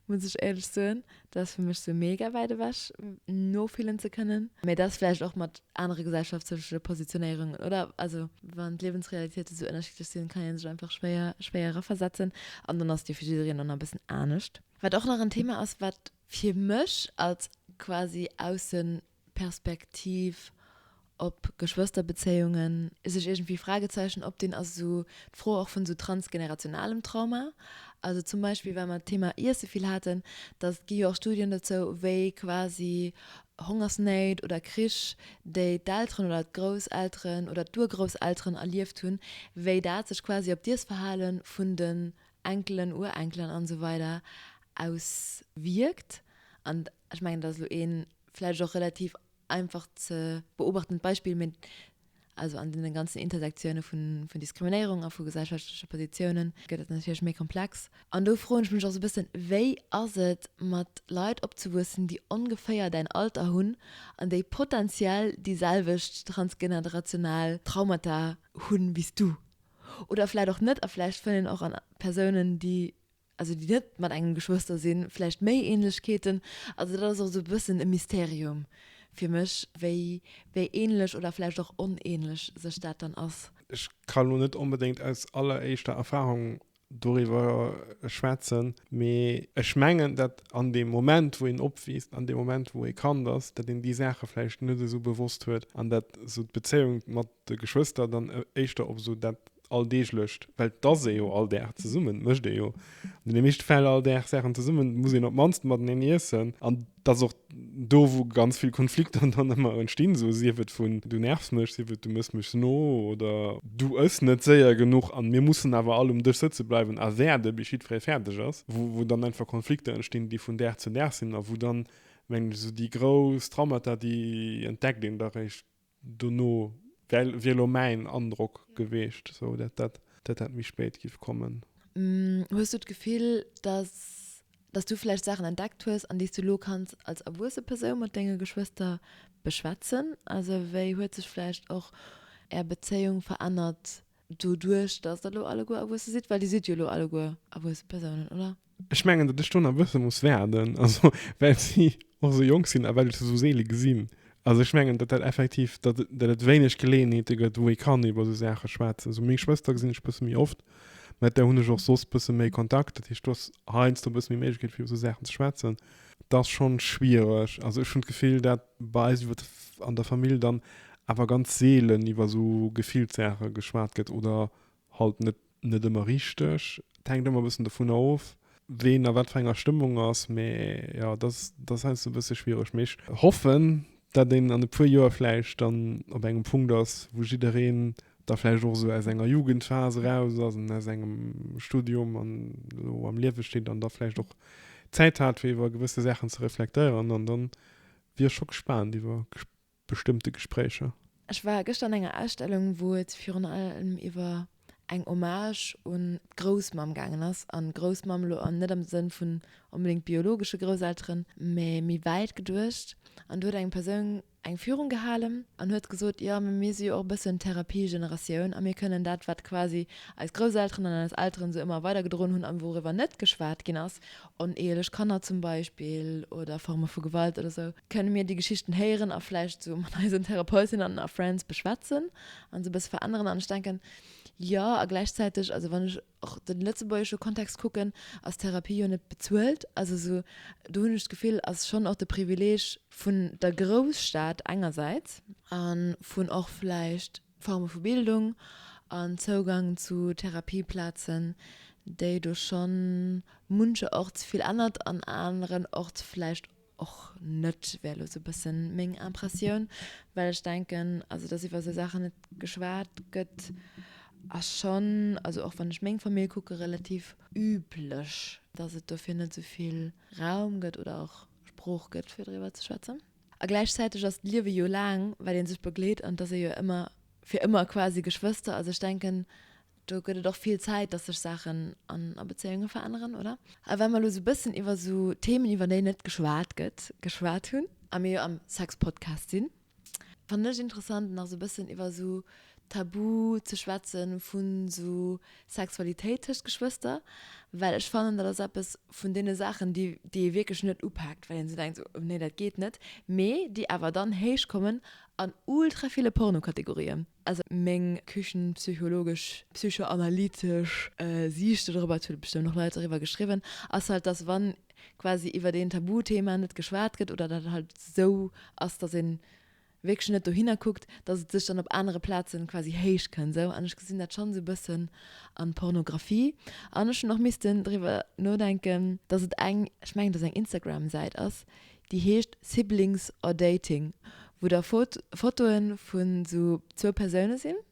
muss ech éierlech soen. Dat ass fir mech sou mega wäit ewech, nofillen ze kënnen. Mee dat ass vläicht och mat anere gesellschaftsleche Positionéierungen, oder? Also wann d'Liewensrealitéite sou ënnerschiddlech sinn, kann ee sech einfach schwéier, schwéier eraversetzen. An dann ass déi fir jiddereen dann nach e bëssen anescht. Wat och nach en Thema ass, wat fir mech als quasi Aussen, Perspektiv op Geschwësterbezéiungen. Sech iergendwéi Fragezeichen opdinn ass esou d'Fro och vun esou transgenerationalem Trauma. Also zum Beispill, well mer d'Thema Iesse vill haten, datt et gi jo och Studien dozou, wéi quasi Hongersnéit oder Krich, déi d'Elteren oder d'Grousselteren oder d'Urgrousselteren erlieft hunn, wéi dat sech quasi op d'Iessverhale vun den Enkelen, Urenkelen an esou weider auswierkt. Ech mengen, et ass elo ee vläicht och relativ einfach ze beobachtend Beispill, mee also an deene ganzen Intersektioune vun Diskriminéierung a vu gesellschaftleche Positiounen gëtt dat natierlech méi komplex. An do froen ech mech och esou e bëssen, Wéi ass et, mat Leit opzewuessen, déi ongeféier däin Alter hunn an déi potentiell déi selwecht transgenerational Traumata hunn wéi s du? Oder vläicht och net a vläicht fëllen och an Persounen, déi also déi net mat engem Geschwëster sinn, vläicht méi Ähnlechkeeten. Also dat ass och esou e bëssen e Mysterium fir mech, wéi, wéi ähnlech oder vläicht och onähnlech sech dat dann ass. Ech ka elo net onbedéngt aus alleréischter Erfahrung doriwwer schwätzen, mee ech mengen, datt an deem Moment, wou een opwiisst, an deem Moment, wou ee Kand ass, datt een déi Saache vläicht net esou bewosst huet an datt esou d'Bezéiung mat de Geschwëster dann éischter op esou dat Alldeeglecht, well dass ee jo all Dag zesummen, mécht ee jo an deene meeschte Fäll all Dag Saachen zesummen, muss een op d'mannst mateneen iessen. An dass och do, wou ganz vill Konflikter dann ëmmer entstinn, esou sief et vun du nervs mech, sief et du mëss mech no oder du ëss net séier genuch an mir mussen awer all um Dësch sëtze bleiwen a waarde bis jiddweree fäerdeg ass, wou wou dann einfach Konflikter entstinn, déi vun Dag zu Dag sinn a wou dann, mengen ech, esou déi grouss Traumata, déi entdeckt een da réischt, Dono wär wär elo mäin Androck geweecht, sou dat dat dat dat méi spéit giff kommen. Hues du d'Gefill, dass dass du vläicht Saachen entdeckt hues, an déi s du elo kanns als erwuesse Persoun mat denge Geschwëster beschwätzen? Also wéi huet sech vläicht och är Bezéiung verännert Doduerch, dass der elo alleguer erwuesse sidd, well Dir sidd jo elo alleguer erwuesse Persounen, oder? Ech mengen, datt ech do nach e bësse muss waarden, also well si och esou jonk sinn a well ech se esou seele gesinn. Also ech mengen, datt dat effektiv, datt et wéineg Geleeënheete gëtt, wou ee kann iwwer esou Saache schwätzen. Also meng Schwëster gesinn ech e bësse méi oft, mä mat där hunn ech och soss e bësse méi Kontakt. Dat heescht, do ass heiansdo e bësse méi Méiglechkeet fir iwwer esou Saachen ze schwätzen. Dat ass schonn schwiereg. Also ech hunn d'Gefill, dat bei eis iwwer an der Famill dann awer ganz seelen iwwer esou Gefillssaache geschwat gëtt oder halt net, net ëmmer richteg. Et hänkt ëmmer e bëssen dovunner of, ween a wat fir enger Stëmmung ass. Mee jo, dat ass, dat ass heiansdo e bësse schwiereg. Mee ech hoffen, dat een an e puer Joer vläicht dann op engem Punkt ass, wou jiddereen da vläicht och esou aus enger Jugendphas eraus ass an aus engem Studium an elo am Liewe steet an da vläicht och Zäit hat, fir iwwer gewësse Saachen ze reflektéieren an dann, Wier scho gespaant iwwer bestëmmte Gespréicher. Ech war gëschter an enger Ausstellung, wou et virun allem iwwer eng Hommage un d'Groussmamm gaangen ass, an Groussmamm elo net am Sënn vun onbedéngt biologesche Grousselteren, mä méi wäit geduecht. An do huet eng Persoun eng Führung gehalen an huet gesot, jo, mä mir si jo och e bëssen d'Therapie-Generatioun a mir kënnen dat, wat quasi eis Grousselteren an eis Elteren esou ëmmer weidergedroen hunn a wouriwwer net geschwat ginn ass, oneheelech Kanner zum Beispill oder Forme vu Gewalt oder esou, kënne mir déi Geschichten héieren a vläicht esou mat eisen Therapeutinnen a Friends beschwätzen an se e bësse veränneren. An ech denken, jo, a gläichzäiteg, also wann ech och de lëtzebuergesche Kontext kucken, ass Therapie jo net bezuelt. Also esou, do hunn ech d'Gefill, ass schonn och de Privileeg vun der Grousstad engersäits a vun och vläicht Forme vu Bildung an Zougang zu Therapieplazen, déi do scho muncherorts vill ännert, an aneren Ort vläicht och net, wär elo esou e bësse meng Impressioun. Well ech denken, also datt iwwer esou Saachen net geschwat gëtt, ass schonn, also och wann ech meng Famill kucke, relativ üblech, datt et dofir net esou vill Raum gëtt oder och Sprooch gëtt, fir driwwer ze schwätzen. A gläichzäiteg ass d'Liewe jo laang, wat ee sech begleet, an et ass ee jo ëmmer, fir ëmmer quasi, Geschwëster. Also ech denken, do gëtt et och vill Zäit, dass sech Saachen an, a Bezéiunge veränneren, oder? A wa mer elo esou e bëssen iwwer esou Themen, iwwer déi net geschwat gëtt, geschwat hunn, a mir jo am Sex-Podcast sinn, fannen ech interessant, nach esou e bëssen iwwer esou Tabu ze schwätzen vun sou Sexualitéit tëscht Geschwëster, well ech fannen dat ass eppes vun deene Saachen déi déi ee wierklech net upaakt, well een sou denkt sou nee dat geet net, mee déi awer dann héich kommen an ultra ville Pornokategorien. Also meng küchenpsychologesch, psychoanalytesch Siicht do drop, et hu bestëmmt och Leit doriwwer geschriwwen, ass halt dass wann quasi iwwert een Tabuthema net geschwat gëtt oder dat halt sou ass dass een wierklech net dohinner kuckt, dass et sech dann op anere Plazen quasi héich kënnt esou an ech gesinn dat schonn esou e bëssen an Pornographie an ech hunn och missten driwwer nodenken dass et eng ech mengen dass eng Instagram Säit ass déi heescht Siblings or Dating wou da Fotoen vun esou zwou Persounen sinn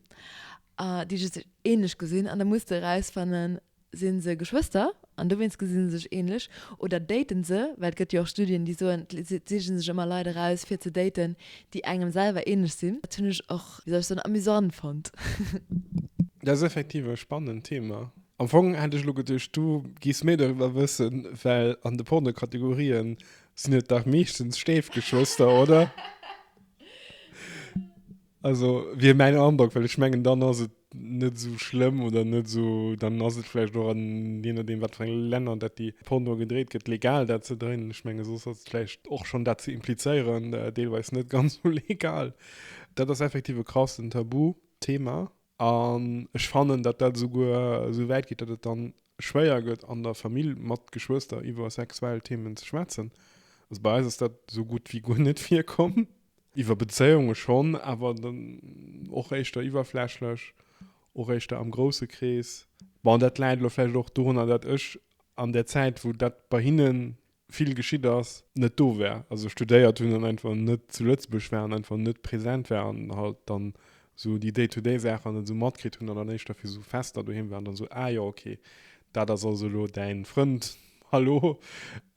déi just ähnlech gesinn an da muss de erausfannen Sinn se Geschwëster an dowéinst gesinn se sech ähnlech? Oder daten se, well et gëtt jo och Studien déi soen, d'Leit sichen sech ëmmer Leit eraus fir ze daten déi engem selwer ähnlech sinn. Dat hunn ech och, wéi soll ech soen, amusant fonnt. Dat ass effektiv e spannend Thema. Am Fong hätt ech elo geduecht du giffs méi doriwwer wëssen, well an de Pornokategorien sinn et dach meeschtens Stéifgeschwëster, oder? Also wier mäin Androck, well ech mengen dann ass et net esou schlëmm oder net esou, dann ass et vläicht och an je nodeem wat fir eng Länner dat déi Porno gedréit gëtt legal dat ze dréinen. Ech menge soss ass et vläicht och schonn dat ze implizéieren deelweis net ganz sou legal. Dat ass effektiv e krassen Tabu-Thema. An ech fannen, datt dat esouguer esou wäit geet, datt et da schwéier gëtt an der Famill mat Geschwëster iwwer sexuell Themen ze schwätzen. Also bei eis ass dat esou gutt wéi guer net virkomm. Iwwer Bezéiunge schonn, awer dann och éischter iwwerflächlech, och éischter am grousse Krees. Bon, dat läit elo vläicht och dorunner, datt ech an där Zäit, wou dat bei hinnen vill geschitt ass, net do war, also studéiert hunn an einfach net zu Lëtzebuerg war an einfach net präsent war an halt dann esou déi day-to-day Saacher net esou matkritt hunn an dann éischter fir esou Fester doheem war an dann esou, ah jo, okay, dat ass also elo däin Frënd, hallo.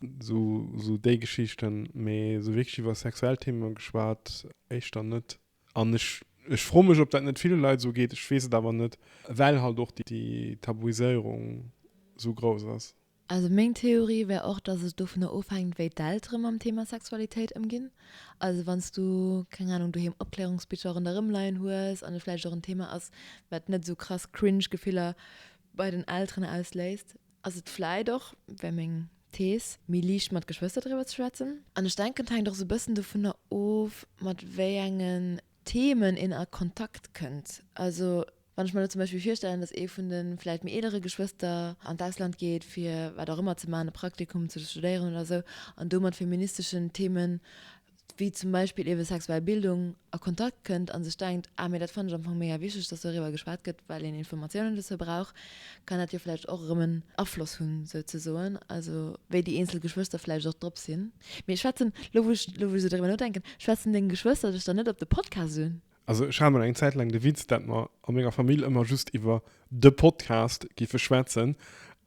Esou, esou déi Geschichten, mee esou wierklech iwwer sexuell Themen geschwat, éischter net an ech, ech froe mech, ob dat net ville Leit esou geet, ech weess et awer net, well halt och déi Tabuiséierung esou grouss ass. Also meng Theorie wär och, dass et dovunner ofhänkt, wéi d'Eltere mam Thema Sexualitéit ëmginn. Also wann s du, keng Anung, doheem Opklärungsbicher ronderëm leien hues an et vläicht och en Thema ass, wat net esou krass cringe Gefiller bei den Elteren ausléist, ass et vläicht och, wär meng Thees, méi liicht mat Geschwëster driwwer ze schwätzen. An ech denken, et hänkt och esou e bëssen dovunner of, mat wéi engen Themen een a Kontakt kënnt. Also Wann ech mer elo zum Beispill virstellen, dass ee vun de vläicht méi eelere Geschwëster an d'Ausland geet, fir wat och ëmmer ze maachen, e Praktikum ze studéieren oder esou, an do mat feministeschen Themen, wéi zum Beispill ebe sexuell Bildung, a Kontakt kënnt a sech denkt, ah, mee dat fannen ech am Fong mega wichteg, dass doriwwer geschwat gëtt, well een Informatiounen dozou brauch, kann dat jo vläicht och erëm en Afloss hunn, souzesoen, also wéi déi eenzel Geschwëster vläicht och drop sinn. Mee schwätzen, elo wou ech esou doriwwer nodenken, schwätzen deng Geschwëster dech dann net op de Podcast un? Also ech hat mol eng Zäit laang de Witz, dat mer a menger Famill ëmmer just iwwer de Podcast giffe schwätzen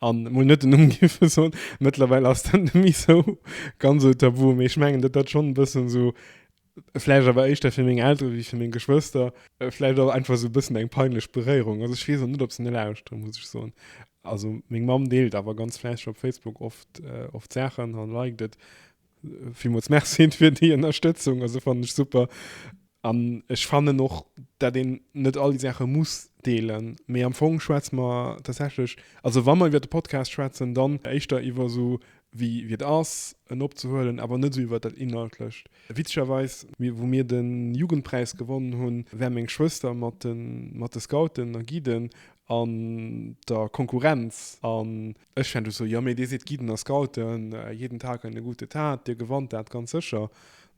an mol net den Numm giffe soen. Mëttlerweil ass dat net méi sou ganz sou tabu, mee ech mengen, dat ass schonn e bëssen esou, vläicht awer éischter fir meng Eltere wéi fir meng Geschwëster, vläicht och einfach esou e bëssen eng peinlech Beréierung. Also ech weess och net, ob se ne lauschteren, muss ech soen. Also meng Mamm deelt awer ganz fläisseg op Facebook oft, oft Saachen an liked et. Villmools Merci fir déi Ënnerstëtzung. Also fannen ech super. An ech fannen och, dat een net all déi Saache muss deelen. Mee am Fong schwätze mer tatsächlech, also wa mer iwwer de Podcast schwätzen, dann éischter iwwer esou wéi wéi et ass en opzehuelen, awer net esou iwwer dat Inhaltlecht. Witzegerweis, wou mir de Jugendpräis gewonnen hunn, war meng Schwëster mat de Scouten a Guiden an der Konkurrenz. An Ech fänt ech sou, jo, mee Dir sidd Guiden a Scouten, jeden Tag eine gute Tat, Dir gewannt dat ganz sécher,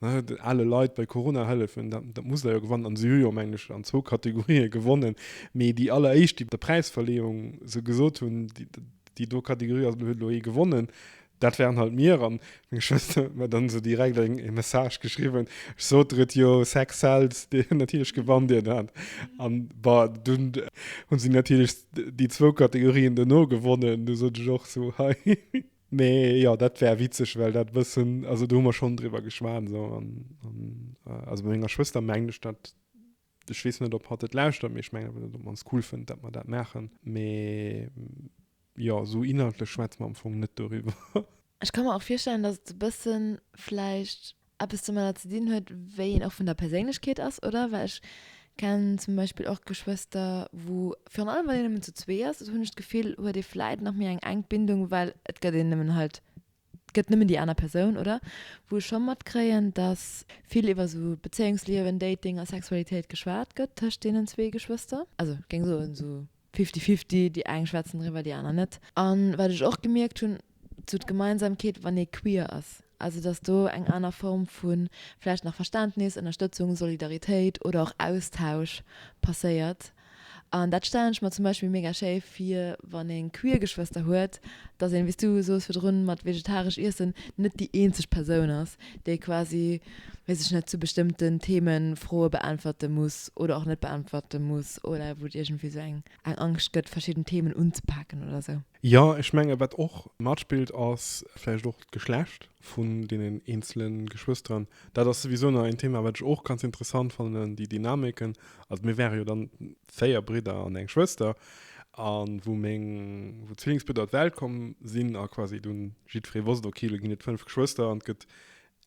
ne, ale Leit bei Corona hëllefen, dat, dat musst Der jo gewannen. An se hu jo, mengen ech, an zwou Kategorië gewonnen, mee déi alleréischt, déi bei der Präisverleeung se gesot hunn, déi do Kategorie ass, huet elo ee gewonnen, dat waren halt mir. An Meng Schwëster huet mer dann esou direkt eng e Message geschriwwen, ech sot der et jo, Sex sells, dee hunn natierlech gewannt dien Owend an bon, dunn hunn si natierlech déi zwou Kategorien duerno gewonnen, du sot ech och esou hei. Mee jo, dat war witzeg, well dat e bëssen, also do hu mer schonn driwwer geschwat esou an also bei menger Schwëster mengen ech dat. Ech weess net, ob hatt et lauschtert, mee ech mengen awer, datt op d'mannst cool fënnt, datt mer dat maachen. Mee jo, esou inhaltlech schwätze mer am Fong net doriwwer. Ech ka mer och virstellen, datt et e bësse vläicht eppes domadder ze dinn huet, wéi een och vun der Perséinlechkeet ass, oder? Well ech kennen zum Beispill och Geschwëster, wou virun allem, wann een nëmmen zu zwee ass, dat hunn ech d'Gefill, huet ee vläicht nach méi eng enk Bindung, well et gëtt een nëmmen halt Et gëtt nëmmen déi aner Persoun, oder? Wou ech scho matkréien, datt vill iwwer esou Bezéiungsliewen, Dating a Sexualitéit geschwat gëtt tëscht deenen zwee Geschwëster. Also ech géing soen esou fifty fifty, déi eng schwätzen driwwer, déi aner net. A wat ech och gemierkt hunn, esou d'Gemeinsamkeet, wann ee queer ass, also datt do eng aner Form vu vläicht nach Verständnis, Ënnerstëtzung, Solidaritéit oder och Austausch passéiert, An dat stellen ech mer zum Beispill mega schéi fir, wann een queer Geschwëster huet, dass een, wéi s du soos virdrun mat vegetaresch Iessen, net déi eenzeg Persoun ass, déi quasi, weess ech net, zu bestëmmten Themen Froe beäntwerte muss oder och net beäntwerte muss oder wou et iergendwéi esou eng Angscht gëtt, verschidden Themen unzepaken oder esou. Jo, ech menge wat och matspillt ass vläicht och d'Geschlecht. vun deenen eenzele Geschwësteren. Dat ass souwisou nach een Thema, wat ech och ganz interessant fannen, déi Dynamiken. Also mir wäre jo dann véier Bridder an eng Schwëster. A wou meng, wou d'Zwillingsbridder op d'Welt komm sinn a quasi dunn jiddweree wosst, ok, lo ginn et fënnf Geschwëster an et gëtt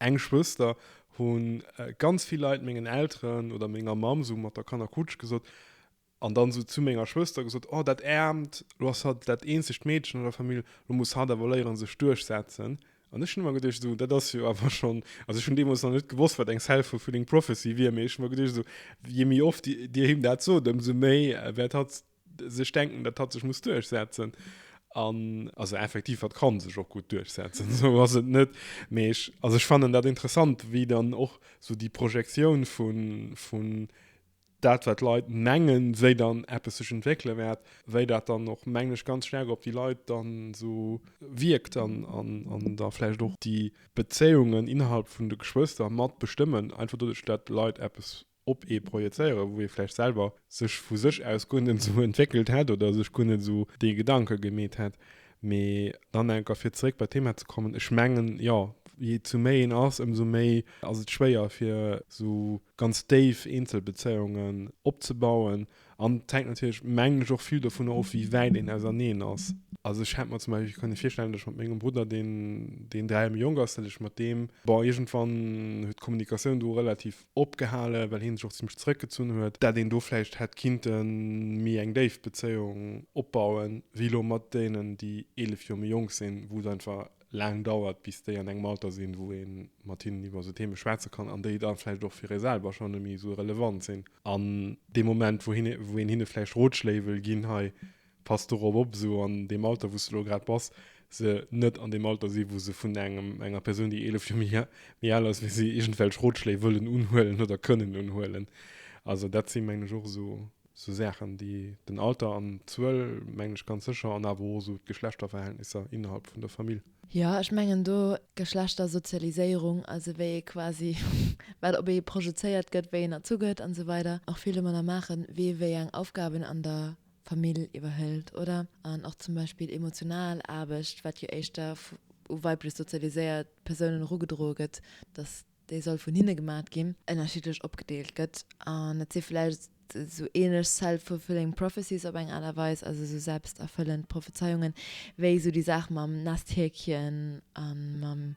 eng Schwëster, hu ganz vill Leit mengen Elteren oder menger Mamm sou mat der Kannerkutsch gesot, An dann esou zu menger Schwëster gesot, Oh, dat Äermt, elo ass hatt dat eenzegt Meedchen an der Famill, elo muss hatt awer léieren, sech duerchsetzen. An ech hunn ëmmer geduecht, esou, dat ass jo awer schonn, also ech hunn deemools nach net gewosst, wat eng self-fulfilling prophecy wier, mee ech hunn ëmmer geduecht, esou, jee méi oft Dir him dat sot, ëmsou méi wäert hatt sech denken, datt hatt sech muss duerchsetzen. An also effektiv, hatt ka sech och gutt duerchsetzen, esou ass et net. Mee ech, also ech fannen dat interessant, wéi dann och esou déi Projektioun vu, dat wat d'Leit mengen, wéi dann eppes sech entwéckele wäert, wéi dat dann och, mengen ech, ganz staark op déi Leit dann esou wierkt an da vläicht och déi Bezéiungen innerhalb vun de Geschwëster mat bestëmmen, einfach doduerch, datt d'Leit eppes op ee projezéieren, wou ee vläicht selwer sech vu sech aus guer net esou entwéckelt hätt oder sech guer net esou dee Gedanke gemeet hätt. Mee dann eng Kéier fir zeréck bei d'Thema ze kommen, ech mengen, jo, jee zu méi een ass, ëmsou méi ass et schwéier fir esou ganz déif eenzel Bezéiungen opzebauen. An et hänkt natierlech, mengen ech, och vill dovunner of, wéi wäit een auserneen ass. Also ech hätt mer zum Beispill kënne virstellen, datt ech mat mengem Brudder, deen deen dräi Joer méi jonk ass, datt ech mat deem, bon, iergendwann huet d'Kommunikatioun do relativ opgehalen, well hien sech och zimmlech zeréckgezunn huet, dat een do vläicht hätt kinnte méi eng déif Bezéiung opbauen, wéi elo mat deenen, déi 11 Joer méi jonk sinn, wou et einfach laang dauert, bis déi an engem Alter sinn, wou een mat hinnen iwwer esou Theeme schwätze kann an déi da vläicht och fir ee selwer schonn net méi esou relevant sinn. An dee Moment, wou een hinne vläicht Rotschléi wëll ginn, hei Pass dorop op, esou an deem Alter, wou s de elo grad bass, se net an deem Alter sinn, wou se vun engem, enger Persoun, déi 11 Joer méi, méi al ass wéi si, iergendwelch Rotschléi wëllen unhuelen oder kënnen unhuelen. Also dat si mengen ech och esou, esou Saachen, déi den Alter an d'Zuel, mengen ech ganz sécher, an awer och esou d'Geschlechterverhältnisser innerhalb vun der Famill. Jo, ech mengen do d'Geschlechtersozialiséierung, also wéi ee quasi, wat op ee projezéiert gëtt, wéi een erzu gëtt an esou weider, och vill domadder maachen, wie wéi eng Aufgaben an der Famill iwwerhëlt, oder? An och zum Beispill emotional Aarbecht, wat jo éischter u weiblech sozialiséiert Persounen erugedroe gëtt, dass déi soll vun hinne gemaach ginn, ënnerschiddlech opgedeelt gëtt. An et si vläicht esou ähnlech self-fulfilling prophecies op eng Aart a Weis, also esou selbsterfüllend Prophezeiungen, wéi esou déi Saach mam Nesthäkchen a mam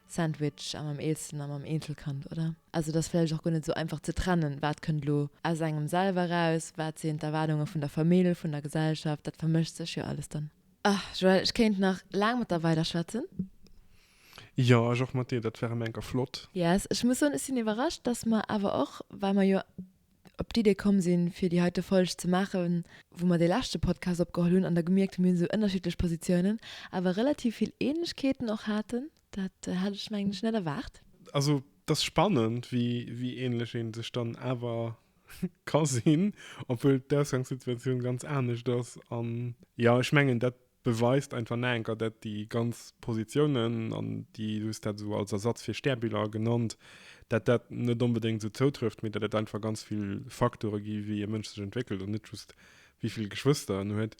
Sandwich a mam Eelsten a mam Eenzelkand, oder? Also et ass vläicht och guer net esou einfach ze trennen, wat kënnt elo aus engem selwer eraus, wat sinn d'Erwaardunge vun der Famill, vun der Gesellschaft, dat vermëscht sech jo alles dann. Ah Joël, ech kéint nach laang mat der weider schwätzen. Jo, ech och mat dir, dat wär em enker flott. Yes, ech muss soen, ech sinn iwwerrascht, dass mer awer och, well mer jo op d'Idee komm sinn, fir déi heite Folg ze maachen, wou mer dee leschte Podcast opgeholl hunn an da gemierkt hunn, mir hunn esou ënnerschiddlech Positiounen, awer relativ vill Ähnlechkeeten och haten. Dat hat ech, mengen ech, net erwaart. Also, et ass spannend, wéi ähnlech ee sech dann awer ka sinn, obwuel d'Ausgangssituatioun ganz anescht ass. An, jo, ech mengen, dat Beweist einfach naenker dat déi ganz Positiounen, an Di hues dat esou als Ersatz fir Stärbiller genannt, dat dat net onbedéngt esou zoutrëfft, mee dat et einfach ganz vill Faktore gi wéi e Mënsch sech entwéckelt an net just wéi vill Geschwëster en huet.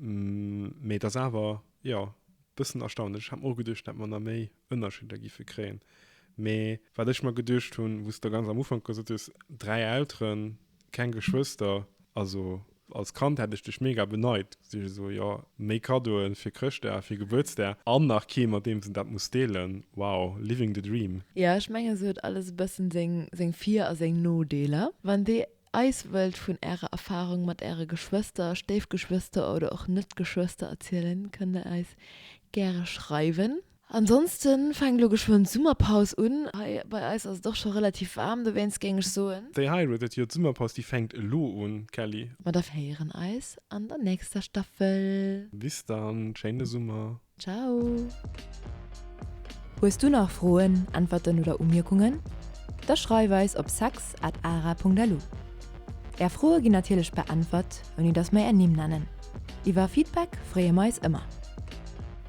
Mee et ass awer, jo, bëssen erstaunlech. Ech hat mer och geduecht dat mer nach méi Ënnerscheeder giffe kréien, mee wat ech mer geduecht hunn, wou s de ganz am Ufank gesot hues, dräi Elteren, Keng Geschwëster, also als Kand hätt ech dech mega beneit, sech esou jo méi Kaddoen fir Chrëschtdag, fir Gebuertsdag an nach kee mat deems en dat muss deelen, wow, living the dream. Jo ech mengen se huet alles e bëssen seng seng Vir a seng Nodeeler. Wann dir eis wëllt vun ärer Erfahrung mat äre Geschwëster, Stéifgeschwëster oder och net Geschwëster erzielen kënnt der eis gäre schreiwen. Ansonsten fänkt elo geschwënn d'Summerpaus un. Hei bei eis ass et och scho relativ waarm dowéinst, géing ech soen. Déi hei elo, dat jo d'Summerpaus, déi fänkt elo un, Kelly. Ma da héieren eis an der nächster Staffel. Bis dann, schéine Summer. Ciao. Hues du nach Froen, Äntwerten oder Umierkungen? Da schreif eis op sex at ara.lu. Är Froe ginn natierlech beäntwert, ouni datt mer är Nimm nennen. Iwwer Feedback freeë mer eis ëmmer.